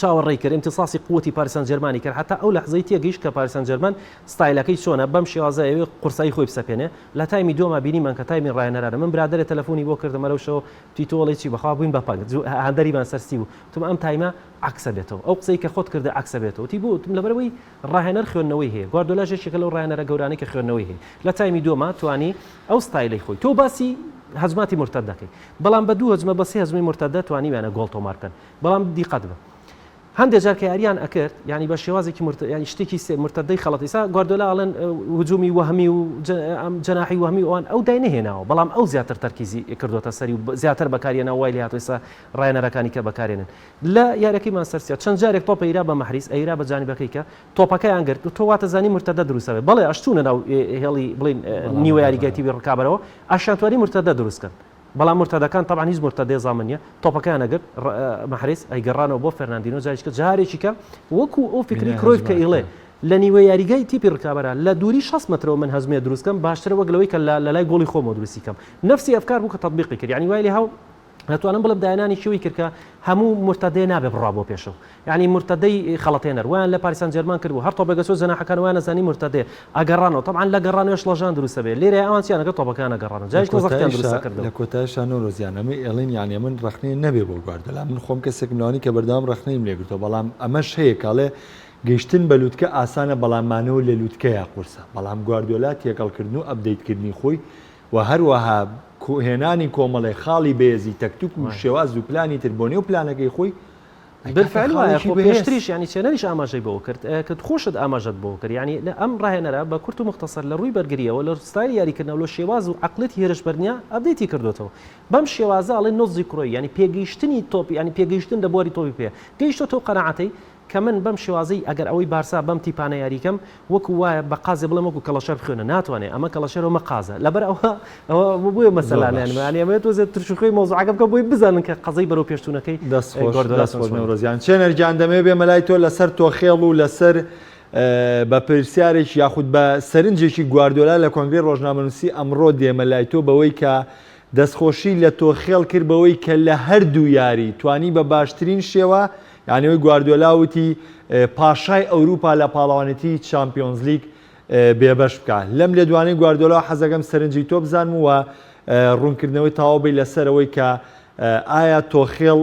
چاوەڕێی کرد، امتصاصی قوتی پاریس سانجێرمانی کرد، هەتا ئەو لەحزەی تێگەیشت کە پاریس سانجێرمان ستایلەکەی چۆنە، بەم شێوازە ئەیەوێ قورسایی خۆی بسەپێنێ، لە تایمی دووەما بینیمان کە تایمی راهێنەرانە، من برادەرێ تەلەفونی بۆ کردم ئەرەو شەوە وتی تۆ ئەڵێی چی، بەخوا بووین بە پەنگ، جوو هاندەریمان سەر ستی بوو، وتم ئەم تایمە عەکسە بێتەوە، ئەو قسەی کە خۆت کردە عەکسە بێتەوە، وتی بۆ، وتم لەبەرئەوەی راهێنەر خوێندنەوەی هەیە، گواردۆلاش یەکێکە لەو راهێنەرە گەورانەی کە خوێندنەوەی هەیە، لە تایمی دووەما توانی. ئەو ستایلەی خۆی تۆ باسی هەجماتی مورتەد دەکەی بەڵام بە دوو هەجمە بە سێ هەجمەی مورتەدە توانیویانە گۆڵ تۆمار بکەن بەڵام دیقەت بە هەندێک جار کە یاریان ئەکرد یعنی بە شێوازێکی مرت یعنی شتێکی سێ مرتدەی خەڵەت ئیسا گواردۆلا ئەڵێن هجومی وەهمی و ئەم جەناحی وەهمی ئەوان ئەو دای نهێناوە بەڵام ئەو زیاتر تەرکیزی کردوتە سەری و زیاتر بەکاریێنە وای لە هاتوسا ڕایەنەرەکانی کە بەکارێنن لە یارەکەی مانسەرسیا چەند جارێک تۆپە ئیرا بە مەحریز ئەیرا بە جانبەکەی کە تۆپەکەیان گرت و تۆ واتەزانی مورتەدە دروست ئەبێت بەڵێ ئەشچونە ناو هێڵی بڵێن نیوە یاریگای تیوی ڕکابەرەوە ئەشیانتوانی مورتەدە دروست کەن بەڵام مورتەدەکان تەبعەن هیچ مورتەدەی زامن نیە تۆپەکەیان ئەگرت مەحرز ئەیگەڕانەوە بۆ فەرناندینۆ جاریش کە جارێکی کە وەکو ئەو فکری کرۆیف کە ئیڵێ لە نیوە یاریگای تیپی ڕکابەرە لە دووری 60 مەترەوە من هەزمێ دروستکەم باشترە وەک لەوەی کە لە لەلای گۆڵی خۆمەوە دروستی کەم نەفسی ئەفکار بوو کە تەتبیقی کرد یانی وای لێ هاو ئەتوانم بڵێم داهێنانی کیوی کرکە هەموو مرتدێ نابێ بڕا بۆ پێشەوە یعنی مرتدەی خەڵەتێنەر ویان لە پاریسان جێرمان کردبوو هەر تۆپێکە چۆ جەناحەکان ویان نەزانی مرتدێ ئەگەڕانەوە تەبعەن لە گەڕانەوەش ڵەژان دروستە بێ لێرە ئەوان چیان ئەگەر تۆپەکەیان نەگەڕاندن جا هیچ مەزەقیان دروست نەکردن لە کۆتایشا نۆرۆز گیان ئەمە ئێڵین یانێ من ڕەخنەیە نەبێ بۆ گواردەلا من خۆم کەسێکم لەوانی کە بەردەوام ڕەخنەیم لێ گرتووە بەڵام ئەمەش هەیە کاڵێ گەیشتن بە لوتکە ئاسانە بەڵام مانەوە لە لوتکەیە قورسە بەڵام گواردیۆلا تێکەڵکردن و ئەپدەیتکردنی خۆی و هەروەها هێنانی کۆمەڵێ خاڵی بەێزی تەکتوک و شێواز و پلانی تر بۆ نێو پلانەکەی خۆی بالفعل وایە خۆ پێشتریش ینی چێنەریش ئاماژەی بەوە کرد کە خۆشت ئاماژەت بۆ کرد ینی لە ئەم ڕاهێنەرە بە کورت و مختصر لە ڕووی بەرگریەوە لە ستایل یاریکردنەوە لە شێواز و عقلێتی هێرشبەرنیە ئەبدەیتی کردوێتەوە بەم شێوازە ئەڵێ نۆزی کرۆی ینی پێگەیشتنی تۆپی ینی پێگەیشتن لە بواری تۆپی پێ گەیشتۆ تۆ قەناعەتەی کە من بەم شێوازەی ئەگەر ئەوەی بارسا بەم تیپانە یاری کەم وەکو وایە بە قازێ بڵێم وەکو کەڵەشەر بخوێنە ناتوانێ ئەمە کەڵەشەر ئەمە قازە لەبەر ئەوە ئەوە بۆیە مەسەلانە یان زۆر یانی باش. ئەمەوێت وەزێت ترش و خوێی مەوزوعەکە بکەم بۆی بزانن کە قەزەی بەرەو پێش چوونەکەی دەست ئەی خۆش گواردیۆلا دەست چۆن خۆش سواری نەورۆز گیان چێنەر گیان دەمەوێ بێمە لای تۆ لەسەر تۆخێڵ و لەسەر بە پرسیارێک یاخود بە سەرنجێکی گواردیۆلا لە کۆنگرەی ڕۆژنامەنووسی ئەمڕۆ دێمە لای تۆ بەوەی کە دەستخۆشی لە تۆخێڵ کرد بەوەی کە لە هەردوو یاری توانی بە باشترین شێوە یانەوەی گواردیۆلا وتی پاشای ئەوروپا لە پاڵەوانێتیی چامپیۆنزلیگ بێبەش بکا. لەم لێدوانەی گواردیۆلا حەزەکەم سەرنجی تۆ بزانم و روونکردنەوەی تەواو بەی لەسەر ئەوەی کە ئایا تۆخێڵ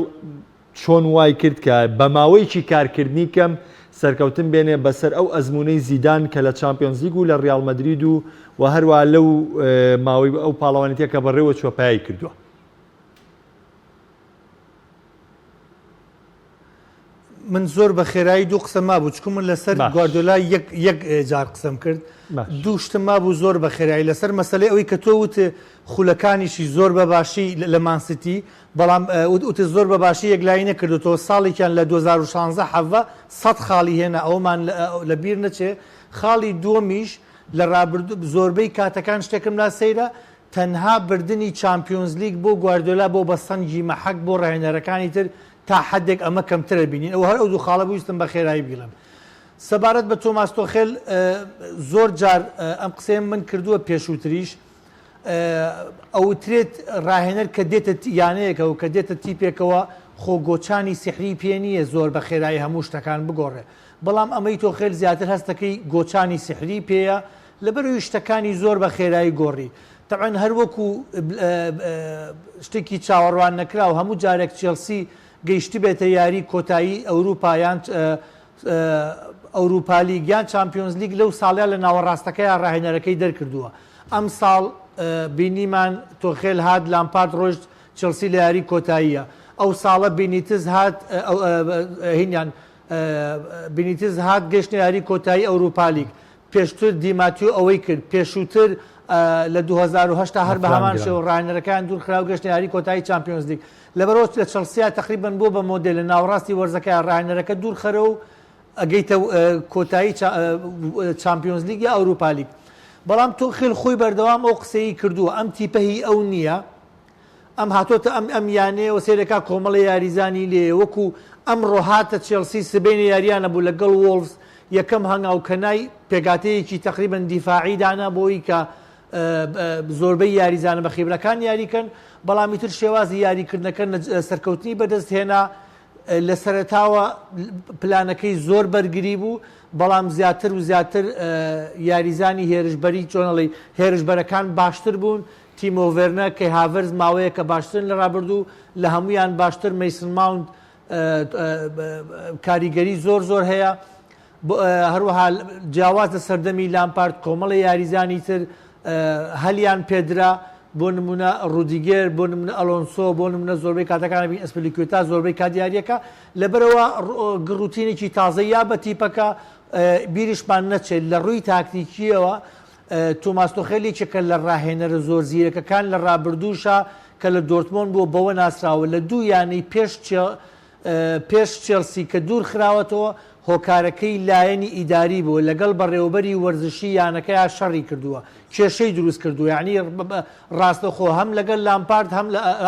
چۆن وای کرد کە بە ماوەیەکی کارکردنی کەم سەرکەوتن بێنێ بەسەر ئەو ئەزموونەی زیدان کە لە چامپیۆنزلیگ و لە ریال مەدرید و و هەروەها لەو ماوەی ئەو پاڵەوانێتییە کە بەڕێوەچووە پەیای کردووە؟ من زۆر بە خێرایی دوو قسە مابوو چکم من لەسەر گواردۆلا یەک جار قسەم کرد دوو شتم مابوو زۆر بە خێرایی لەسەر مەسلەی ئەوەی کە تۆ وت خولەکانیشی زۆر بە باشی لە مانسیتی بەڵام وت زۆر بە باشی یەکلایی نەکردوەوە ساڵێکیان لە 2016 حەڤە سە خاڵی هێنا ئەومان لە بیر نەچێ خاڵی دووەمیش لە ڕابرد زۆربەی کاتەکان شتێکم لا سەیرە تەنها بردنی چامپیۆنزلیگ بۆ گواردیۆلا بۆ بەستەنگی مەحەک بۆ راهێنەرەکانی تر تا حەدێک ئەمە کەمترە بینین ئەوە هەر ئەو دوو خاڵە بوو ویستم بەخێرایی بگڵێم سەبارەت بە تۆماس تۆخێل زۆر جار ئەم قسەیەم من کردووە پێشووتریش ئەوترێت راهێنەر کە دێتە یانەیەکە و کە دێتە تیپێکەوە خۆ گۆچانی سحری پێ نییە زۆر بە خێرایی هەموو شتەکان بگۆڕێ بەڵام ئەمەی تۆخێل زیاتر هەستەکەی گۆچانی سحری پێەیە لەبەرئەوی شتەکانی زۆر بە خێرایی گۆڕی. تەبعەن هەر وەکو شتێکی چاوەڕوان نەکراو هەموو جارێک چێڵسی گەیشتبێتە یاری کۆتایی ئەوروپا یان ئەوروپالیگ یان چامپیۆنزلیگ لەو ساڵە لە ناوەڕاستەکەیا راهێنەرەکەی دەرکردووە. ئەمساڵ بینیمان تۆخێل هات لامپارد رۆشت چێڵسی لە یاری کۆتاییە. ئەوساڵە بینیتز هات هینیان بینیتز هات گەشتە یاری کۆتایی ئەوروپالیگ، پێشتر دی ماتیۆ ئەوەی کرد، پێشووتر لە دوو هەزار و هەشت تا هەر بەهەمان شێوە راهێنەرەکەیان دوورخرا و گەشتە یاری کۆتایی چامپیۆنزلیگ لەبەرەوەچوو، لە چڵسیا تەقریبەن بووە بە مۆدێل لە ناوەڕاستی وەرزەکەیا راهێنەرەکە دوورخەرە و ئەگەیتە کۆتایی چامپیۆنزلیگ یا ئەوروپالیگ، بەڵام توخێل خۆی بەردەوام ئەو قسەیەی کردووە ئەم تیپە هی ئەو نییە، ئەم هاتۆتە ئەم ئەم یانەیەوە سەیرەکا کۆمەڵە یاریزانی لێیە وەکو ئەمڕۆ هاتە چێڵسی سبەینێ یاریانە بوو لەگەڵ وۆڵڤس یەکەم هەنگاوکەنای پێکاتەیەکی تەقریبەن دیفاعی دانا بۆی کە زۆربەی یاریزانە بە خیبرەکان یاریکەن بەڵامی تر شێوازی یاریکردنەکە سەرکەوتنی بەدەست هێنا لە سەرتاوە پلانەکەی زۆر بەرگری بوو بەڵام زیاتر و زیاتر یاریزانی هێرشبەری چۆنەڵی هێرشبەرەکان باشتر بوون تیمۆ ڤێرنەر، کەی هاڤێرز ماوەیەکە باشترن لە رابردوو، لە هەموویان باشتر مەیسن ماونت کاریگەری زۆر زۆر هەیە، هەروەها جیاواز لە سەردەمی لامپارد کۆمەڵێ یاریزانی تر هەلیان پێدرا، بۆ نموونە رودیگێر، بۆ نموونە ئەلۆنسۆ، بۆ نموونە زۆربەی کاتەکان ئەبین ئەسپلیکوێتا زۆربەی کات یارییەکە، لەبەرئەوە گڕ و تینێکی تازە یا بە تیپەکە بیرشمان نەچێت لە رووی تاکتیکییەوە تۆماس تۆخێل یەکێکە لە راهێنەرە زۆر زیرەکەکان لە رابردووشا کە لە دۆرتمۆند بووە، بەوە ناسراوە لە دوو یانەی پێش چێڵسی کە دوورخراوەتەوە، هۆکارەکەی لایەنی ئیداری بووە، لەگەڵ بەڕێوەبەری وەرزشی یانەکەیا شەڕی کردووە، کێشەی دروستکردووە، یانی راستەوخۆ هەم لەگەڵ لامپارد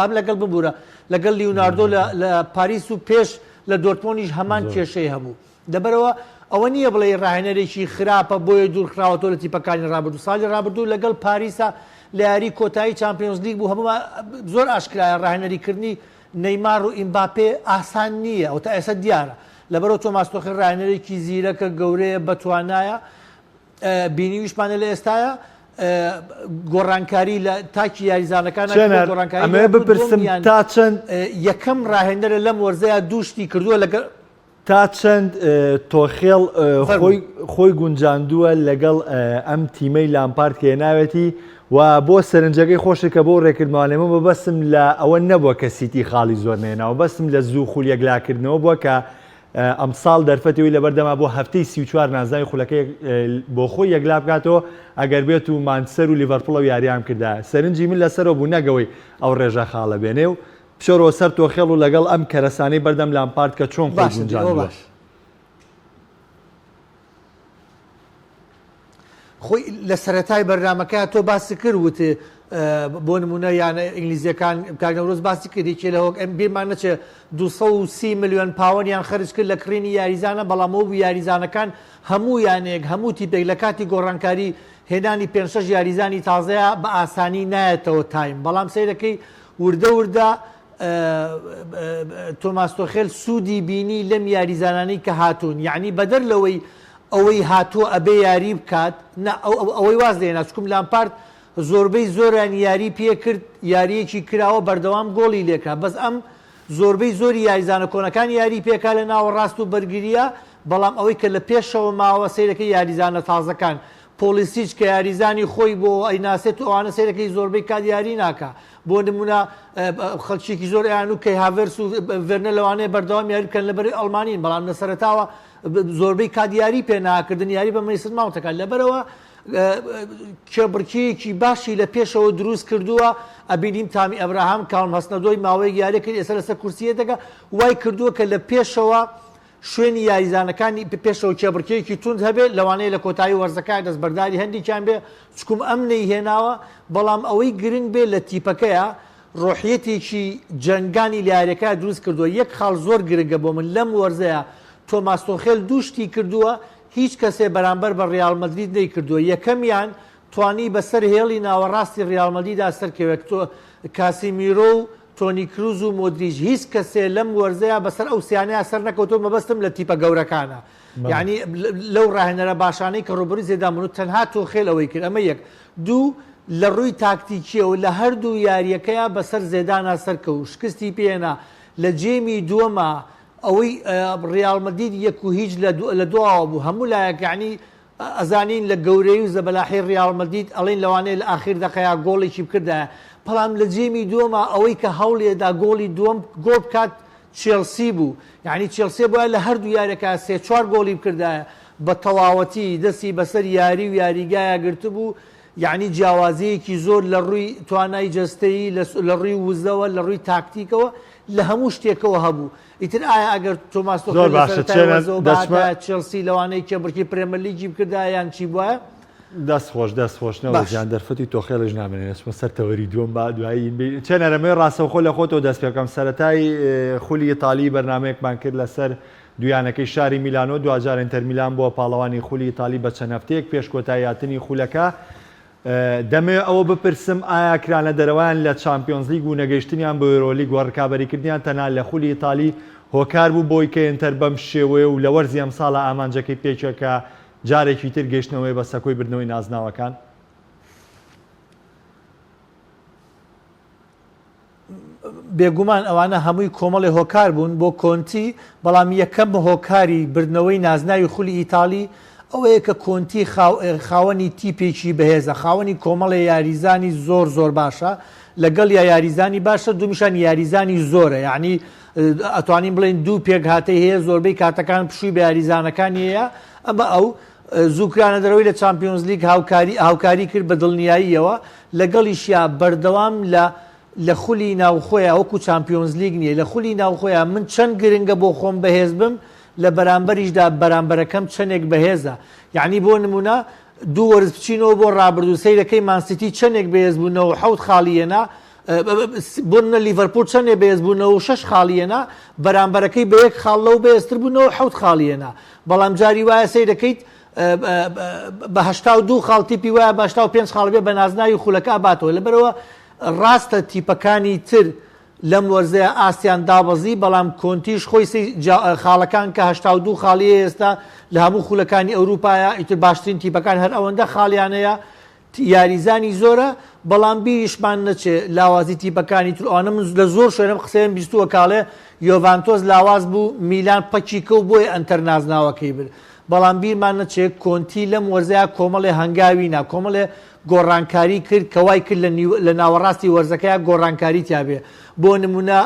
هەم لەگەڵ ببورە لەگەڵ لیوناردۆ لە پاریس و پێش لە دۆرتمۆندیش هەمان کێشەی هەبوو. لەبەرئەوە ئەوە نییە بڵێی راهێنەرێکی خراپە بۆیە دوورخراوەتەوە لە تیپەکانی رابردوو، ساڵی رابردوو لەگەڵ پاریسا لە یاریی کۆتایی چامپیۆنزلیگ بوو هەموومان زۆر ئاشکرایە راهێنەریکردنی نەیمار و ئیمباپێ ئاسان نییە و تا ئێستا دیارە لەبەرئەوە تۆماس تۆخێل راهێنەرێکی زیرەکە گەورەیە بەتوانایە بینیویشمانە لە ئێستایا گۆڕانکاری لە تاکی یاریزانەکان گۆڕانکاری بپرسم تا چەند یەکەم راهێنەرە لەم وەرزەیە دوو شتی کردووە لەگەڵ تا چەند تۆخێڵ خۆی گونجاندووە لەگەڵ ئەم تیمەی لامپارد کە هێناوێتی و بۆ سەرنجەکەی خۆشە کە بۆ ڕێکردمانێمە بە بەسم لە ئەوە نەبووە کە سیتی خاڵی زۆر نێناوە بەسم لە زوو خول یەکلاکردنەوە بووە کە ئەمساڵ دەرفەتەوەی لەبەردەما بۆ هەفتەی سی چوار نازناوی خولەکەی بۆ خۆی یەکلا بکاتەوە ئەگەر بێت و مانچسەر و لیڤەرپوڵە و یاریان کردا سەرنجی من لەسەرەوە بوو نەگەوەی ئەو ڕێژە خاڵە بێنێ و بچۆرەوە سەر تۆخێڵ و لەگەڵ ئەم کەرەسانەی بەردەم لامپارد کە چۆن خۆی باشە دەی ئەوە گونجاندووە. باشە. خۆی لە سەرەتای بەرنامەکە تۆ باست کرد وت اه، بۆ نموونە یانە ئینگلیزیەکان کاک نەورۆز باسی کرد یەکێ لە هۆک ئەم بیرمان نەچێ 230 ملیۆن پاوەنیان خەرج کرد لە کڕینی یاریزانە بەڵام وەبوو یاریزانەکان هەموو یانەیەک هەموو تیپێک لە کاتی گۆڕانکاری هێنانی پێنج شەش یاریزانی تازەیە بە ئاسانی نایەتەوە تایم بەڵام سەیرەکەی وردە وردە تۆماس تۆخێل سوودی بینی لەم یاریزانانەی کە هاتوون یعنی بەدەر لەوەی ئەوەی هاتووە ئەبێ یاری بکات نا ئەوەی واز لێ ناچکم لامپارت زۆربەی زۆران یاری پێ کرد یاریەکی کراوە بەردەوام گۆڵی لێکا بەس ئەم زۆربەی زۆری یاریزانە کۆنەکان یاری پێکا لە ناوەڕاست و بەرگریە بەڵام ئەوەی کە لە پێشەوە ماوە سیرەکە یاریزانە تازەکان پۆڵیسیچ کە یاریزانی خۆی بۆ ئەیناسێت و ئەوانە سەیرەکەی زۆربەی کات یاری ناکا بۆ نمونە خەلچێکی زۆر ئەیان و کەی هاڤێرس و ڤێرنە لەوانەیە بەردەوام یاری بکەن لەبەری ئەڵمانین بەڵام لە سەرەتاوە زۆربەی کات یاری پێ ناکردن یاری بە مەیسن ماونتەکە لەبەرەوە کێبڕکیەکی باشی لە پێشەوە دروست کردووە ئەبینیم تامی ئەبراهام کاڵم هەستنەدۆی ماوەیەک یاریکرد ئێستا لەسەر کورسیەتەکە وای کردووە کە لە پێشەوە شوێنی یاریزانەکانی پێشەوە کێبڕکێیەکی توند هەبێت، لەوانەیە لە کۆتایی وەرزەکە دەستبەرداری هەندێکیان بێت، چکوم ئەم نەیهێناوە، بەڵام ئەوەی گرنگ بێت لە تیپەکەیە، ڕۆحیەتێکی جەنگانی لە یاریەکەیا دروست کردووە، یەک خاڵ زۆر گرنگە بۆ من لەم وەرزەیا، تۆماس تۆخێل دوو شتی کردووە هیچ کەسێ بەرامبەر بە ڕیاڵ مەدرید نەیکردووە، یەکەمیان توانی بەسەر هێڵی ناوەڕاستی ڕیاڵ مەدریدا سەرکەوێت، کاسیمیرۆ و تۆنی کروز و مۆدریچ هیچ کەسێ لەم وەرزەیا بەسەر ئەو سیانەیا سەر نەکەوتوە مەبەستم لە تیپە گەورەکانە یعنی لەو راهێنەرە باشانەی کە روبەروی زێدان بون و تەنها تۆخێل ئەوەی کرد ئەمە یەک دوو لە روی تاکتیکیەوە لە هەردوو یاریەکەیا بەسەر زێدانا سەرکەوو شکستی پێ هێنا لە جێمی دوەما ئەوەی ریال مەدید یەک و هیچ لە دواوە بوو هەموو لایەک یعنی ئەزانین لە گەورەی و زەبەلاحی ریال مەدید ئەڵین لەوانەیە لە ئاخیر دەقەیا گۆڵێکی بکردایە بەڵام لە جێمی دووەما ئەوەی کە هەوڵیەدا گۆڵی دووەم گۆڵ بکات چێڵسی بوو یانی چێڵسێ بایە لە هەردوو یارەکە سێ چوار گۆڵی بکردایە بە تەواوەتی دەستی بەسەر یاری و یاریگایا گرتبوو یانی جیاوازیەکی زۆر لە ڕووی توانای جەستەیی لە ڕووی وزەوە لە ڕووی تاکتیکەوە لە هەموو شتێکەوە هەبوو ئیتر ئایا ئەگەر تۆماس تۆخێل زۆر لە باشە سەرەتای چێنە وەرزەوە دەچمە بهاتایە چێڵسی لەوانەیە کێبڕکی پرێمەرلیگی بکردایە یان چی بوایە؟ دەست خۆش دەست خۆش نەوە باش. جان دەرفەتی تۆخێلش نامێنێ دەچمە سەر تەوەری دووەم با دوایی ین بی چێنەرە مەی ڕاستەوخۆ لە خۆتەوە دەست پێ بکەم سەرەتای ئێ خولی ئیتالی بەرنامەیەکمان کرد لەسەر دوو یانەکەی شاری میلانۆ دواجار ئینتەر میلان بووە پاڵەوانی خولی ئیتالی بە چەند هەفتەیەک پێش کۆتایی هاتنی خولەکە دەمەوێت ئەوە بپرسم ئایا کرانەدەرەوەیان لە چامپیۆنزلیگ و نەگەیشتنیان بۆ یۆرۆلیگ و رکابەریکردنیان تەنها لە خولی ئیتالی هۆکار بوو بۆی کە ئینتەر بەم شێوەیە و لە وەرزی ئەمساڵا ئامانجەکەی پێکە کە جارێکی تر گەیشتنەوەیە بە سەکۆی بردنەوەی نازناوەکان؟ بێگومان ئەوانە هەمووی کۆمەڵێ هۆکار بوون بۆ کۆنتی بەڵام یەکەم هۆکاری بردنەوەی نازناوی خولی ئیتاڵی ئەوەیە کە کۆنتی خاوەنی تیپێکی بەهێزە خاوەنی کۆمەڵێ یاریزانی زۆر زۆر باشە لەگەڵ یا یاریزانی باشە دومیشان یاریزانی زۆرە یعنی ئەتوانین بڵێن دوو پێک هااتەی هەیە زۆربەی کاتەکان پشووی بە یاریزانەکانیەیە ئەمە ئەو زوو کرانەدەرەوەی لە چامپیۆنزلیگ هاوکاری کرد بە دڵنیاییەوە لەگەڵیشیا بەردەوام لە لە خولی ناوخۆیان وەکو چامپیۆنزلیگ نیە لە خولی ناوخۆیان من چەند گرنگە بۆ خۆم بەهێز بم لە بەرامبەریشدا بەرامبەرەکەم چەندێک بەهێزە یعنی بۆ نمونە دوو وەرز بچینەوە بۆ ڕابردوو سەیرەکەی مانسیتی چەندێک بەهێز بوو نەوەحەوت خاڵی هێنا بونە لیڤەرپوول چەندێ بەێز بوو نەوە شش خاڵیەنا بەرامبەرەکەی بە یەک خاڵ لەو بەێزتر بوو نەوە حوت خاڵیەنا بەڵام جاری وایە سەی دەکەیت بەهشتا و دوو خاڵ تیپی وایە باشتا و پێنج خاڵبێ بە نازناوی خولەکە ئاباتەوە لەبەرەوە ڕاستە تیپەکانی تر لەم وەرزەیە ئاستیان دابەزی بەڵام کۆنتیش خۆی خاڵەکان کە هشتا و دوو خاڵی ئێستا لە هەموو خولەکانی ئەوروپایە ئیتر باشترین تیپەکان هەر ئەوەندە خاڵیانەیە یاریزانی زۆرە بەڵام بیریشمان نەچێ لاوازی تیپەکانی تر ئەوانە من لە زۆر شوێنم قسەیەم بیستووە کاڵێ یۆڤانتۆس لاواز بوو میلان پەکی کەو بۆیە ئەنتەر نازناوەکەی برد بەڵام بیرمان نەچێ کۆنتی لەم وەرزەیا کۆمەڵێ هەنگاوی نا کۆمەڵێ گۆڕانکاری کرد کە وای کرد لە ناوەڕاستی وەرزەکەیا گۆڕانکاری تیابێ بۆ نمونە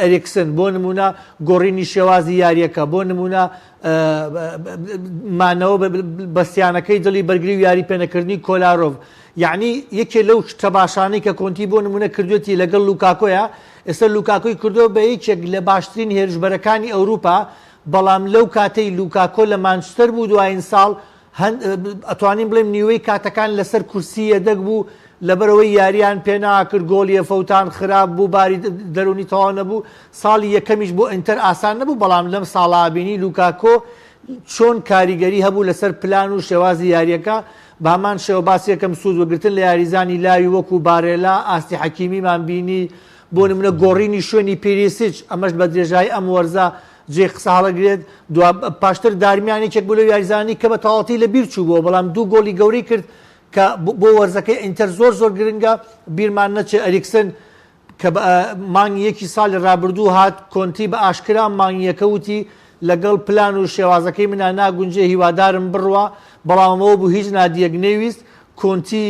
ئەرێکسن بۆ نمونە گۆڕینی شێوازی یاریەکە بۆ نمونە مانەوە بەستیانەکەی دڵی بەرگری و یاری پێنەکردنی کۆلارۆڤ یعنی یەکێ لەو تەماشانەی کە کۆنتی بۆ نمونە کردوێتی لەگەڵ لوکاکۆیە ئێستا لوکاکۆی کردووە بە یەکێک لە باشترین هێرشبەرەکانی ئەوروپا بەڵام لەو کاتەی لوکاکۆ لە مانچستەر بوو دوایین ساڵ هەند ئەتوانین بڵێم نیوەی کاتەکان لەسەر کورسی یەدەگ بوو لەبەرەوەی یاریان پێناکرد گۆڵیە فەوتان خراپ بوو باری دەرونی تەواو نەبوو ساڵی یەکەمیش بۆ ئینتەر ئاسان نەبوو بەڵام لەم ساڵا بینی لوکاکۆ چۆن کاریگەری هەبوو لەسەر پلان و شێوازی یاریەکە بامان شێوە باس یەکەم سوود وەگرتن لە یاریزانی لاوی وەکو بارێلا ئاستی حەکیمیمان بینی بۆ نمونە گۆڕینی شوێنی پیریسیچ ئەمەش بە درێژایی ئەم وەرزە جێی قسە هەڵەگرێت، دوا پاشتر دارمیان یەکێک بوو لەو یاریزانانی کە بە تەواوەتی لە بیر چووبووە، بەڵام دوو گۆڵی گەورەی کرد کە بۆ وەرزەکەی ئینتەر زۆر زۆر گرنگە، بیرمان نەچێت ئەریکسن کە بە مانگی یەکی ساڵی رابردوو هات، کۆنتی بە ئاشکرا مانگی یەکە وتی لەگەڵ پلان و شێوازەکەی مندا ناگونجێ هیوادارم بڕوا، بەڵام ئەوە بوو هیچ نادیەک نەیویست کۆنتی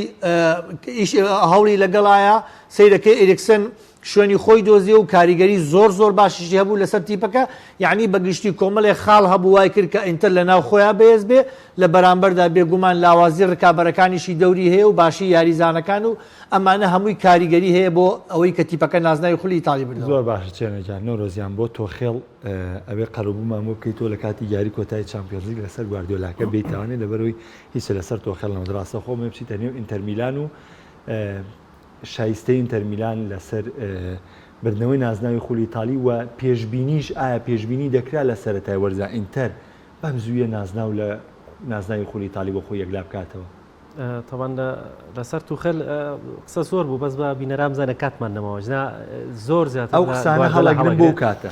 ئیش هەوڵی لەگەڵایە، سەیرەکەی ئەریکسن شوێنی خۆی دۆزیەوە و کاریگەری زۆر زۆر باشیشی هەبوو لەسەر تیپەکە یانی بەگشتی کۆمەڵێ خاڵ هەبوو وای کرد کە ئینتەر لەناو خۆیان بەهێز بێ لە بەرامبەردا بێگومان لاوازی رکابەرەکانیشی دەوری هەیە و باشی یاریزانەکان و ئەمانە هەمووی کاریگەری هەیە بۆ ئەوەی کە تیپەکە نازناوی خولی ئیتاڵی بردەوە. زۆر باشە چێنە گیان نەورۆزیان بۆ تۆخێڵ ئەبێ قەرەبوومان بۆ بکەی تۆ لە کاتی یاری کۆتایی چامپیۆنزلیگ لەسەر گواردیۆلاکە بێیتاوانێ لەبەرەوەی هیچ لەسەر تۆخێڵ نەوت راستەخۆ ئەمەوێ بچیتە نێو ئینتەرمیلان و شایستەی ئینتەر میلان لەسەر بردنەوەی نازناوی خولی ئیتاڵی و پێشبینیش، ئایا پێشبینی دەکرا لە سەرەتای وەرزدا ئینتەر بەم زوویە نازناو لە نازناوی خولی ئیتاڵی بۆ خۆی یەکلا بکاتەوە؟ تەبان لەسەر توخل قسە زۆر بوو بەس بە بینەران بزانە کاتمان نەماوە جنا زۆر زیاتر ئەو قسانە هەڵەگرن بۆ کاتە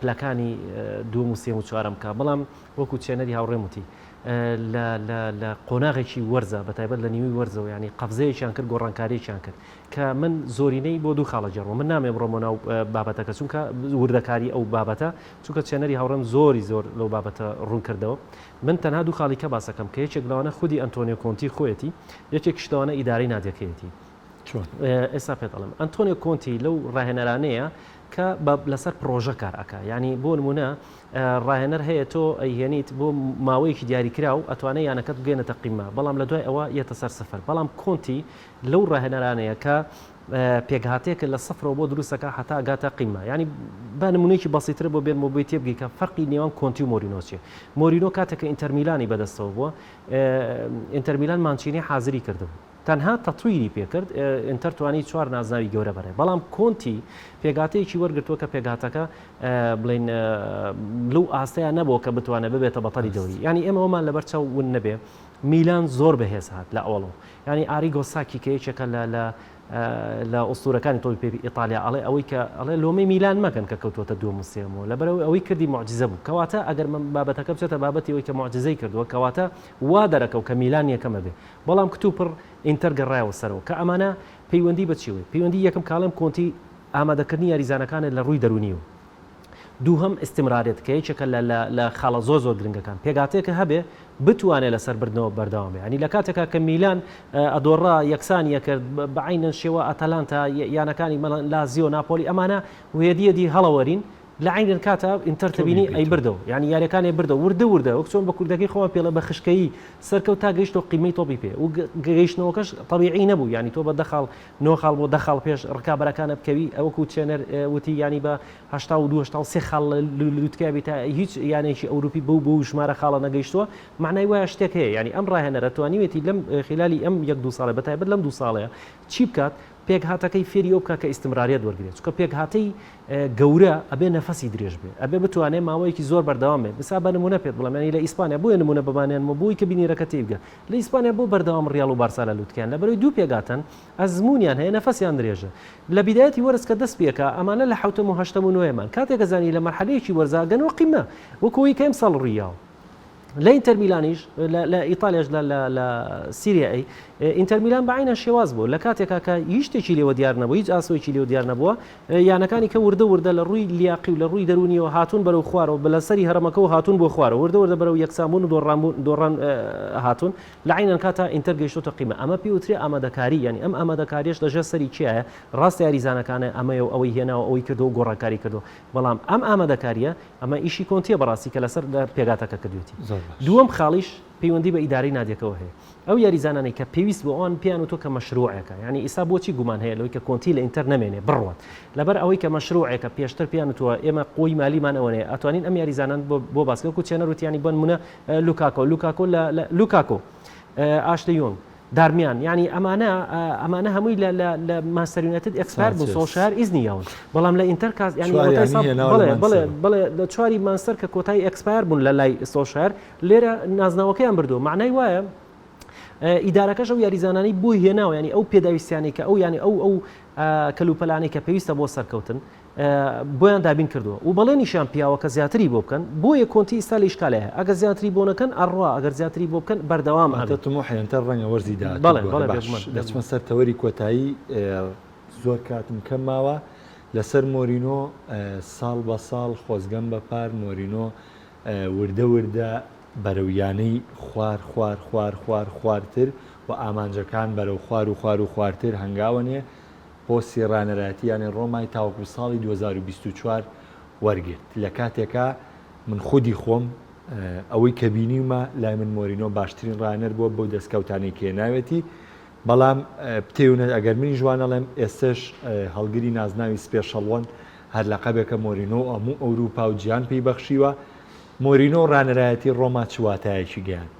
پلەکانی دووەم و سێم و چوارەم بکا، بەڵام وەکو چێنەری هاوڕێم وتی لە قۆناغێکی وەرزە بەتایبەت لە نیوەی وەرزەوە یانی قەفزەیەکیان کرد گۆڕانکاریەکیان کرد کە من زۆرینەی بۆ دوو خاڵە جێڕوە من نامێ بڕۆمە ناو بابەتەکە چونکە وردەکاری ئەو بابەتە چونکە چێنەری هاوڕێم زۆری زۆر لەو بابەتە ڕوون کردەوە من تەنها دوو خاڵی کە باسەکەم کە یەکێک لەوانە خودی ئەنتۆنیۆ کۆنتی خۆیەتی یەکێک شتەوانە ئیدارەی نادیەکەیەتی چۆن؟ ئێستا پێت ئەڵێم. ئەنتۆنیۆ کۆنتی لەو ڕاهێنەرانەیە کە لەسەر پڕۆژە کار ئەکا. یانی بۆ نموونە ڕاهێنەر هەیە تۆ ئەیهێنیت بۆ ماوەیەکی دیاریکراو ئەتوانێ یانەکەت بگەێنێتە قیممە، بەڵام لە دوای ئەوە یێتە سەر سفر. بەڵام کۆنتی لەو ڕاهێنەرانەیە کە پێکهاتەیەکە لە سفرەوە بۆ دروست ئەکا هەتا ئەگاتە قیممە. یانی با نموونەیەکی بەسیتترە بۆ بێنمەوە بۆی تێبگەی کە فەرقی نێوان کۆنتی و مۆرینۆ چییە. مۆرینۆ کاتێک کە ئینتەر میلانی بەدەستەوە بووە، ئینتەر میلان مانچینی حازری کردبوو. تەنها تەتویری پێکرد، ئینتەر توانی چوار نازناوی گەورە بەرێت، بەڵام کۆنتی پێکهاتەیەکی وەرگرتووە کە پێکهاتەکە بڵێین لەو ئاستەیان نەبووە کە بتوانێت ببێتە بەتەڵی دەوری، یانی ئێمە ئەومان لەبەر چاو ون نەبێ میلان زۆر بەهێز هات لە ئەوەڵۆ، یانی ئاریگۆ ساکی کە یەکێکە لە ئوستوورەکانی تۆپی پێی ئیتاڵیا ئەڵێ ئەوەی کە ئەڵێ لۆمەی میلان مەکەن کە کەوتووەتە دووەم و سێیەم و لەبەرەوەی ئەوەی کردی موعجیزە بوو، کەواتە ئەگەر بابەتەکە بچێتە بابەتی ئەوەی کە موعجیزەی کردووە کەواتە وا دەرەکەو کە میلان یەکەمە بێ. بەڵام کتوپڕ ئینتەر گەڕایەوە سەرەوە، کە ئەمانە پەیوەندی بە چیەوەی؟ پەیوەندی یەکەم کاڵێم کۆنتی ئامادەکردنی یاریزانەکانە لە ڕووی دەروونی و دووهەم ئیستمرارێت کە یەکێکە لە لە لە خاڵە زۆر زۆر گرنگەکان پێکهاتەیەکە هەبێ بتوانێ لەسەر بردنەوە بەردەوام بێ یانی لە کاتێکا کە میلان ئەدۆڕا یەکسانی ئەکرد بە عەینەن شێوە ئاتالانتا یانەکانی مەڵەن لازیۆ ناپۆلی ئەمانە وێدیەدی هەڵەوەرین لە عەین الکاتە ئینتەر تەبینی ئەی بردەوە یانی یاریەکان ئەی بردەوە وردە وردە وەک چۆن بە کوردەکەی خۆمان پێڵێ بە خشکەیی سەرکەوت تا گەیشتەوە قیمەی تۆپی پێ و گەیشتنەوەکەش تەبیعی نەبوو یانی تۆ بە دە خاڵ نۆ خاڵ بۆ دە خاڵ پێش ڕکابەرەکانە بکەوی ئەوە وەکوو ترێنەر وتی یانی بە هەشتا و دوو هەشتا و سێ خاڵ لە لووتکەیا بیت هیچ یانێکی ئەوروپی بەو بەو ژمارە خاڵە نەگەیشتووە مەعنای وایە شتێک هەیە یانی ئەم ڕاهێنەرە توانیوێتی لەم خلالی ئەم یەک دوو ساڵە بەتایبەت لەم دوو ساڵەیە چی بکات پێکهاتەکەی فێری ئەو بکە کە ئیستمرارەت وەرگرێت چونکە پێکهاتەی گەورە ئەبێ نەفەسی درێژ بێ ئەبێ بتوانێ ماوەیەکی زۆر بەردەوام بێ بسا بە نمونە پێت بڵێم ینی لە ئیسپانیا بۆیە نمونە بەبانیانمە بۆی کە بینیرەکە تێیبگە لە ئیسپانیا بۆ بەردەوام ڕیاڵ و بارسا لە لوتکەیان لە بەرەوەی دوو پێگاتەن ئەزمونیان هەیە نەفەسیان درێژە لە بیدایەتی وەرز کە دەست پێکا ئەمانە لە حەوتەم و هەشتەم و نۆیەمان کاتێک ئەزانی لە مەرحەلەیەکی وەرزا گەن و قیمە وەکو ئەوەی کە ئەمساڵ ڕویاوە لە ئینتەرمیلانیش لە ئیتالیاش لە سیریایی ئینتەرمیلان بەعینە شێواز بوو لە کاتێکا کە هیچ شتێکی لێوە دیار نەبوو هیچ ئاسۆیکی لێو دیار نەبووە یانەکانی کە وردە وردە لە ڕووی لیاقی و لە ڕووی دەرونیەوە هاتون بەرەو خوارەوە بە لە سەری هەرمەکە و هاتون بۆ خوارە وردە وردە بەرەو یەکسانبوون و دۆڕانبوون دۆڕان هاتون لە عینەن کاتا ئینتەر گەیشتۆتە قیمە ئەمە پێوتری ئامادەکاری یعنی ئەم ئامادەکاریش لەژێر سەری کیایە ڕاستە یاریزانەکانە ئەمەیە و ئەوەی هێناوە ئەوەی کردو گۆڕانکاری کردو بەڵام ئەم ئامادەکاریە ئەمە ئیشی کۆنتیە بەڕاستی کە لەسەر پێگاتەکە کردوێتی دووەم خاڵیش پەیوەندی بە ئیدارەی نادیەکەوە هەیە ئەو یاریزانانەی کە پێویست بۆ ئەوان پێیان وتوە کە مەشروعەکە یعنی ئیسا بۆچی گومان هەیە لەوەی کە کۆنتی لە ئینتەر نەمێنێ بڕوات لەبەر ئەوەی کە مەشروعەکە پێشتر پێیان وتوە ئێمە قوی مالیمان ئەوەیە ئەتوانین ئەم یاریزانان بۆ باسکە کوچێنەر وتیانی بۆن منە لوکاکۆ لوکاکۆ لە لوکاکۆ ئاشلیۆنگ دارمیان یانی ئەمانە ئەمانە هەمووی لە لە لە مانچستەر یونایتد ئێکسپایەر بوو سۆڵشار ئیزنی یاون بەڵام لە ئینتەر کاس یانی چواری یانی ساڵ- هێناوە لە بەڵێ بەڵێ مانچستەر. بەڵێ لە چواری مانچستەر کە کۆتایی ئێکسپایەر بوون لە لای سۆڵشار لێرە نازناوەکەیان بردووە مەعنای وایە ئە، ئیدارەکەش ئەو یاریزانانەی بۆی هێناوە یانی ئەو پێداویستیانەی کە ئەو یانی ئەو ئەو ئە، کەلوپەلانەی کە پێویستە بۆ سەرکەوتن بۆیان دابین کردووە و بەڵێنیشیان پیاوە کە زیاتری بۆ بکەن بۆیە کۆنتی ئیستا لە ئیشکالێ هەیە ئەگەر زیاتری بۆ نەکەن ئەڕوا ئەگەر زیاتری بۆ بکەن بەردەوام ئەبێ. واتە تموحیان تر رەنگە وەرزی داهاتوو بگۆرێ. بەڵێ بەڵێ بێگومان. باش دەچمە سەر تەوەری کۆتایی زۆر کاتم کەم ماوە لەسەر مۆرینۆ ساڵ بە ساڵ خۆزگەم بە پار مۆرینۆ وردە وردە بەرەو یانەی خوار خوار خوار خوار خوارتر و ئامانجەکان بەرەو خوار و خوار و خوارتر هەنگاوەنێ پۆستی رانەرایەتی یانەی رۆمای تاوەکو ساڵی دوو هەزار و بیست و چوار وەرگرت، لە کاتێکا من خودی خۆم ئەوەی کە بینیومە لای من مۆرینۆ باشترین رانەر بووە بەو دەستکەوتانەی کە هێناوێتی، بەڵام پتەوێنەر ئەگەر منیش وانەڵێم ئێستەش هەڵگری نازناوی سپێشەڵوەن هەر لەقەبێکە مۆرینۆ و هەموو ئەوروپا و جیهان پێی بەخشیوە، مۆرینۆ و رانەرایەتی رۆما چ واتایەکی گەیاند؟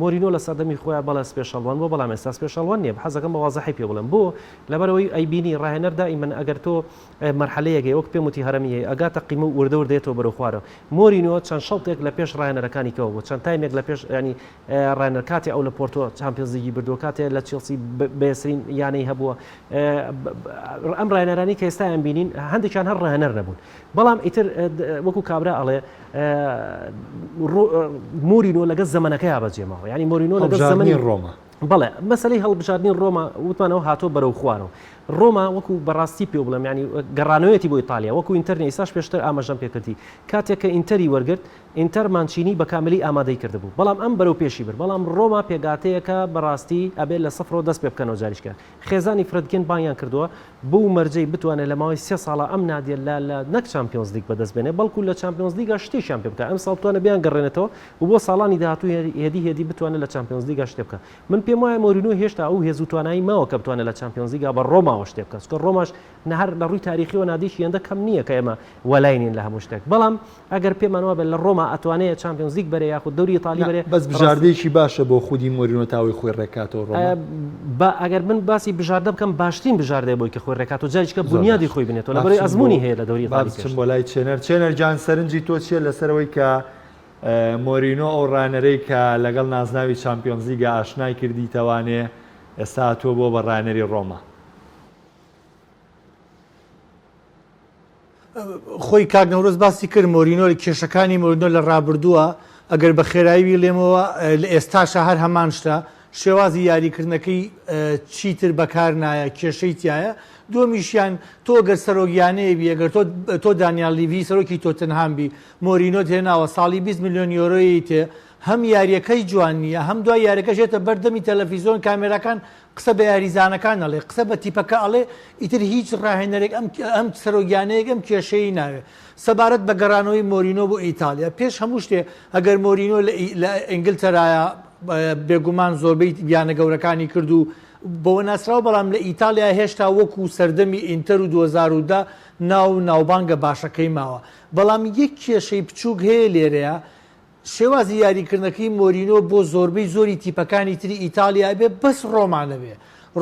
مۆرینۆ لە سەردەمی خۆیا بەڵێ سپێشەڵوەن بووە بەڵام ئێستا سپێشەڵوەن نییە حەزەکەم بە وازحی پێ بڵێم بۆ لەبەرئەوەی ئەی بینی ڕاهێنەر دائیمەن ئەگەر تۆ مەرحەلەیەک هەیە وەک پێم وتی هەرەمی هەیە ئەگاتە قیمە و وردە وردە یەتەوە بەرەو خوارەوە مۆرینۆ چەند شەڵتێک لە پێش ڕاهێنەرەکانی کەوە بوو چەند تایمێک لە پێش یانی ڕاهێنەر کاتێ ئەو لە پۆرتۆ چامپیۆنز لیگی بردووە کاتێ لە چێڵسی بەسرین یانەی هەبووە ئەم ڕاهێنەرانی کە ئێستا ئەم بینین هەندێکیان هەر ڕاهێنەر نەبوون بەڵام ئیتر وەکو کابرا ئەڵێ مۆرینۆ لەگەڵ زەمەنەکەیا بەجێماوە ینی مۆرینۆ لەگەڵ زەمەنی ڕۆما بەڵێ مەسلەی هەڵبژاردننی ڕۆما وتمانەوە هاتۆ بەرەو خوارەوە ڕۆما وەکو بەڕاستی پێ بڵێم ینی گەڕانەوەیەتی بۆ ئیتالیا وەکو ئینتەرنی ئساش پێشتر ئاماژەم پێکردی کاتێک کە ئینتەری وەرگرت ئینتەر مانچینی بە کاملی ئامادەی کردبوو بەڵام ئەم بەرەو پێشی بر بەڵام ڕۆما پێگاتەیەکە بەڕاستی ئەبێت لە سفرۆ دەست پێ بکەنەوە جاریشکە خێزانی فرەتگەن بانیان کردووە بەو مەرجەی بتوانێت لە ماوەی سێ ساڵا ئەم نادیە لا لا نەک چامپیۆنزلیگ بەدەست بێنێت، بەڵکو لە چامپیۆنزلیگا شتێکیان پێ بکات، ئەمساڵ بتوانێت بیانگەڕێنێتەوە و بۆ ساڵانی داهاتوو هێدی هێدی بتوانێت لە چامپیۆنزلیگا شتێ بکات. من پێم وایە مۆرینیۆ هێشتا ئەو هێز و توانایی ماوە کە بتوانێت لە چامپیۆنزلیگا بە رۆماوە شتێ بکات، چونکە رۆماش هەر لە رووی تاریخییەوە نادیەکی هێندە کەم نییە کە ئێمە وەلای نین لە هەموو شتێک، بەڵام ئەگەر پێمان وابێت لە ڕۆما ئەتوانێ چامپیۆنز لیگ بەرێ یاخود دەوری ئیتاڵی بەرێ بەس بژاردەیەکی باشە بۆ خودی مۆرینۆ تا ئەوەی خۆی ڕێکاتەوە ڕۆما با ئەگەر من باسی بژاردە بکەم باشترین بژاردەیە بۆی کە خۆی ڕێکاتەوە جاریشکە زۆر بونیادی باش خۆی بنێتەوە با لەبەرەی بچم بۆ ئەزموونی هەیە لە دەوری با ئیتاڵی بچم پێشتر بۆ لای چێنەر چێنەر جان سەرنجی تۆ چییە لەسەر ئەوەی کە اه، مۆرینۆ ئەو ڕانەرەی کە لەگەڵ نازناوی چامپیۆنز لیگە ئاشنای کردیتەوانێ ئێستا هاتووە بۆ بە ڕانەری ڕۆما؟ خۆی کاک نەورۆز باسی کرد مۆرینۆ کێشەکانی مۆرینۆ لە ڕابردووە ئەگەر بە خێرایی لێمەوە لە ئێستاشە هەر هەمان شتە شێوازی یاریکردنەکەی چیتر بەکار نایە کێشەی تایە دومیشیان تۆ گەر سەرۆگیانەیە بی ئەگەر تۆ تۆ دانیال لیڤی سەرۆکی تۆتنهام بی مۆرینۆ تێناوە ساڵی 20 میلیۆن یۆرۆی تێ هەم یاریەکەی جوان نییە هەم دوای یاریەکە ژێتە بەردەمی تەلەفیزۆن کامێراکان قسە بە یاریزانەکان ئەڵێ قسە بە تیپەکە ئەڵێ ئیتر هیچ راهێنەرێک ئەم ئەم سەرۆک یانەیەک ئەم کێشەیەی ناوێ سەبارەت بە گەڕانەوەی مۆرینۆ بۆ ئیتاڵیا پێش هەموو شتێ ئەگەر مۆرینۆ لە ئینگلتەرایە بێگومان زۆربەی یانە گەورەکانی کرد و بەوە ناسراو بەڵام لە ئیتاڵیا هێشتا وەکو سەردەمی ئینتەر و 2010 ناو ناوبانگە باشەکەی ماوە بەڵام یەک کێشەی بچووک هەیە لێرەیە شێوازی یاریکردنەکەی مۆرینۆ بۆ زۆربەی زۆری تیپەکانی تری ئیتاڵیا ئەبێ بەس ڕۆما نەبێ،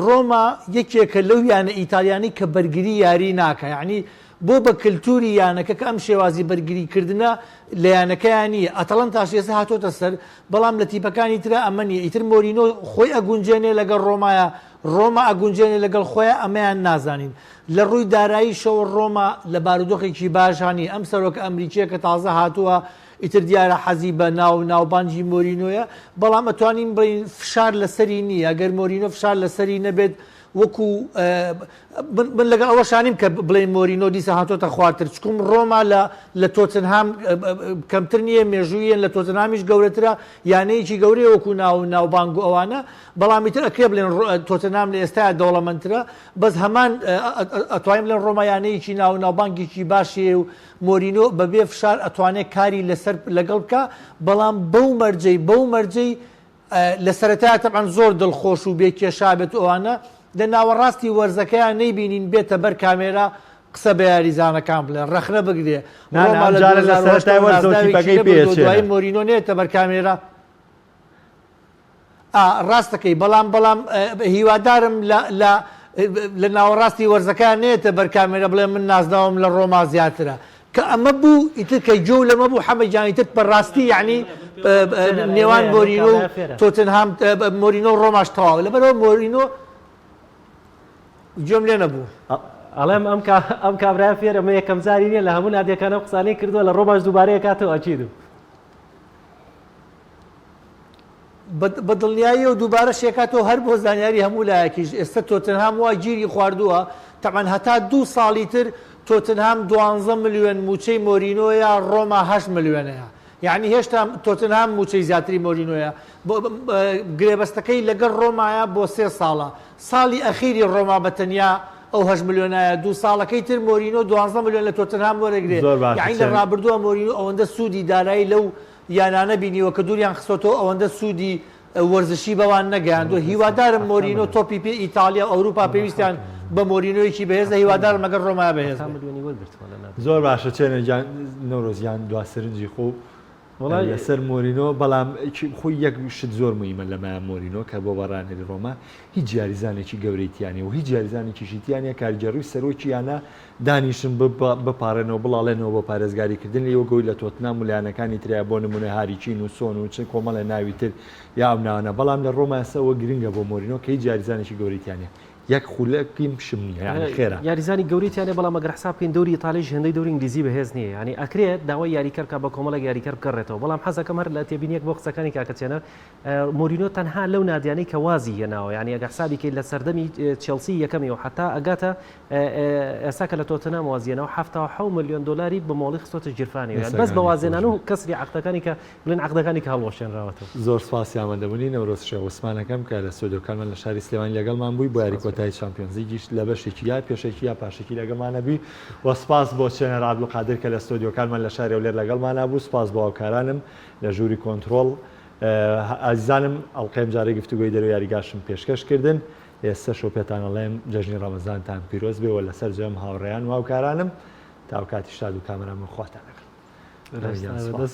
ڕۆما یەکێکە لەو یانە ئیتاڵیانەی کە بەرگری یاری ناکا یانی بۆ بە کەلتوری یانەکە کە ئەم شێوازی بەرگری کردنە لە یانەکەیا نیە، ئەتەڵەنتاش ئێستا هاتۆتە سەر بەڵام لە تیپەکانی ترا ئەمە نیە ئیتر مۆرینۆ خۆی ئەگونجێنێ لەگەڵ ڕۆمایا ڕۆما ئەگونجێنێ لەگەڵ خۆیا ئەمەیان نازانین لە ڕووی داراییشەوە ڕۆما لە بارودۆخێکی باشا نیە ئەم سەرۆکە ئەمریکیە کە تازە هاتووە ئیتر دیارە حەزی بە ناو و ناوبانگی مۆرینۆیە، بەڵام ئەتوانین بڵێین فشار لەسەری نییە، گەر مۆرینۆ فشار لەسەری نەبێت وەکو من لەگەڵ ئەوەشا نیم کە بڵێین مۆرینۆ دیسان هاتۆتە خوارتر، چکم ڕۆما لە تۆتنهام کەمتر نییە، مێژووییان لە تۆتنهامیش گەورەترە، یانەیەکی گەورەیە وەکو ناو و ناوبانگ و ئەوانە، بەڵام ئیتر ئەکرێ بڵێن تۆتنهام لە ئێستایا دەوڵەمەندترە، بەس هەمان ئەتوانین بڵێن ڕۆما یانەیەکی ناو و ناوبانگێکی باشی هەیە و مۆرینۆ بەبێ فشار ئەتوانێت کاری لەسەر لەگەڵ بکا بەڵام بەو مەرجەی بەو مەرجەی لە سەرەتایە تەبعەن زۆر دڵخۆش و بێ کێشا بێت و ئەوانە لە ناوەڕاستی وەرزەکەیان نەیبینین بێتە بەر کامێرا قسە بە یاریزانەکان بڵێ ڕەخنە بگرێ نا نا ئەم جارە لە سەرەتای وەرزەوە تیپەکەی پێچێنە. دوایی مۆرینۆ نێتە بەر کامێرا ئا ڕاست دەکەی بەڵام بەڵام هیوادارم لە لە لە ناوەڕاستی وەرزەکە نێتە بەر کامێرە بڵێ من نازناوم لە ڕۆما زیاترە کە ئەمە بوو ئیتر کە جۆ لەمە بوو حەمە جانی تر بەڕاستی یعنی نێوان مۆرینۆ و تۆتنهام مۆرینۆ ڕۆماش تەواو لەبەرەوە مۆرینۆ جۆم لێ نەبوو ئەڵێم ئەم ئەم کابرای فێرە مە یەکەم زاری نیە لە هەموو نادیەکانە قسانەی کردووە لە ڕۆماش دووبارەیە کاتەوە ئەچیدم بەدڵنیاییەوە دووبارە شێکاتەوە هەر بۆ زانیاری هەموو لایەکیش ئێستا تۆتنهام وا گیری خواردووە تەبعەن هەتا دوو ساڵی تر تۆتنهام دوانزە ملیۆن مووچەی مۆرینۆیە ڕۆما هەشت ملیۆنەیە یەعنی هێشتا تۆتنهام مووچەی زیاتری مۆرینۆیە گرێبەستەکەی لەگەڵ ڕۆمایە بۆ سێ ساڵە ساڵی ئەخیری ڕۆما بە تەنیا ئەو هەشت ملیۆنایە دوو ساڵەکەی تر مۆرینۆ دوانزە ملیۆن لە تۆتنهام وەرەگرێت زۆر باشە یەعنی لە ڕابردووە مۆرینۆ ئەوەندە سوودی دارایی لەو یانانە بینیوە کە دوریان خستۆتەوە ئەوەندە سودی وەرزشی بەوان نەگەیاندوە هیوادارم مۆرینۆ تۆپی پێ ئیتاڵیا و ئەوروپا پێویستیان بە مۆرینۆیەکی بەهێزە هیوادارم لەگەڵ رۆما بەهێز بێت. زۆر باشە چێنە گیان نەورۆز گیان دوا سرنجی خۆو وەڵای لەسەر مۆرینۆ بەڵام خۆی یەک شت زۆر مویمە لە مایە مۆرینۆ کە بۆ بەڕانەری ڕۆما هیچ یاریزانێکی گەورەی تیانە و هیچ یاریزانێکیشی تیانە کارگێڕی و سەرۆکی یانە دانیشن بپاڕێنەوە بڵاڵێنەوە بۆ پارێزگاری کردن ئیوە گۆی لە تۆتنام و لە یانەکانی ترایە بۆ نمونە هاری کین و سۆن و چ کۆمەڵێ ناوی تر یا ئەو ناوانە بەڵام لە ڕۆما ئێستا ئەوە گرنگە بۆ مۆرینۆ کە هیچ یاریزانێکی گەورەی تیا نیە یەک خولەکی پشم نیە یانی خێرە یاریزانی گەورەی تیا نیە بەڵام ئەگەر حساب بکەین دەوری ئیتالیش هێندەی دەوری ئینگلیزی بەهێز نیە یانی ئەکرێت داوای یاریکەر بکات بە کۆمەڵێک یاریکەر بگەڕێتەوە بەڵام حەزەکەم هەر لە تێبینیەک بۆ قسەکانی کاکە چێنە مۆرینۆ تەنها لەو نادیانەی کە وازی هێناوە یانی ئەگە حسابی کەیت لە سەردەمی چێڵسی یەکەمی و حەتا ئەگاتە ئێستا کە لە تۆتنام وازی هێناوە حەفتا و حەو ملیۆن دۆلاری بە مۆڵی خستۆتە گیرفانی یان بەس بە وازێنان و کەسری عەقدەکانی کە بڵێن عەقدەکانی کە هەڵوەشێنراوەتەوە. زۆر سپاسی ئامادەبوونی نەورۆز شێخ عوسمان ئەکەم کە لە ستۆدیۆکانمان لە شاری سلێمانی لەگەڵمان بووی بۆ یاری کۆتایی چامپیۆنز لیگیش لە بەشێکی یا پێشەکی یا پاشەکی لەگەڵمانە بووی و سپاس بۆ چێنەر عەبدولقادر کە لە ستۆدیۆکانمان لە شاری هەولێر لەگەڵمانا بوو سپاس بۆ هاوکارانم لە ژووری کۆنترۆڵ ئازیزانم ئەڵقەی ئەمجارەی گفتوگۆی دەرەوەی یاریگاشم پێشکەش کردن، ئێستەش و پێتان ئەڵێم جەژنی ڕەمەزانتان پیرۆز بێ و لەسەر جەم هاوڕێیان و هاوکارانم تاوکاتی شاد و کامەران من خواتان ئەگرم. بەرێز گیان سوپاس.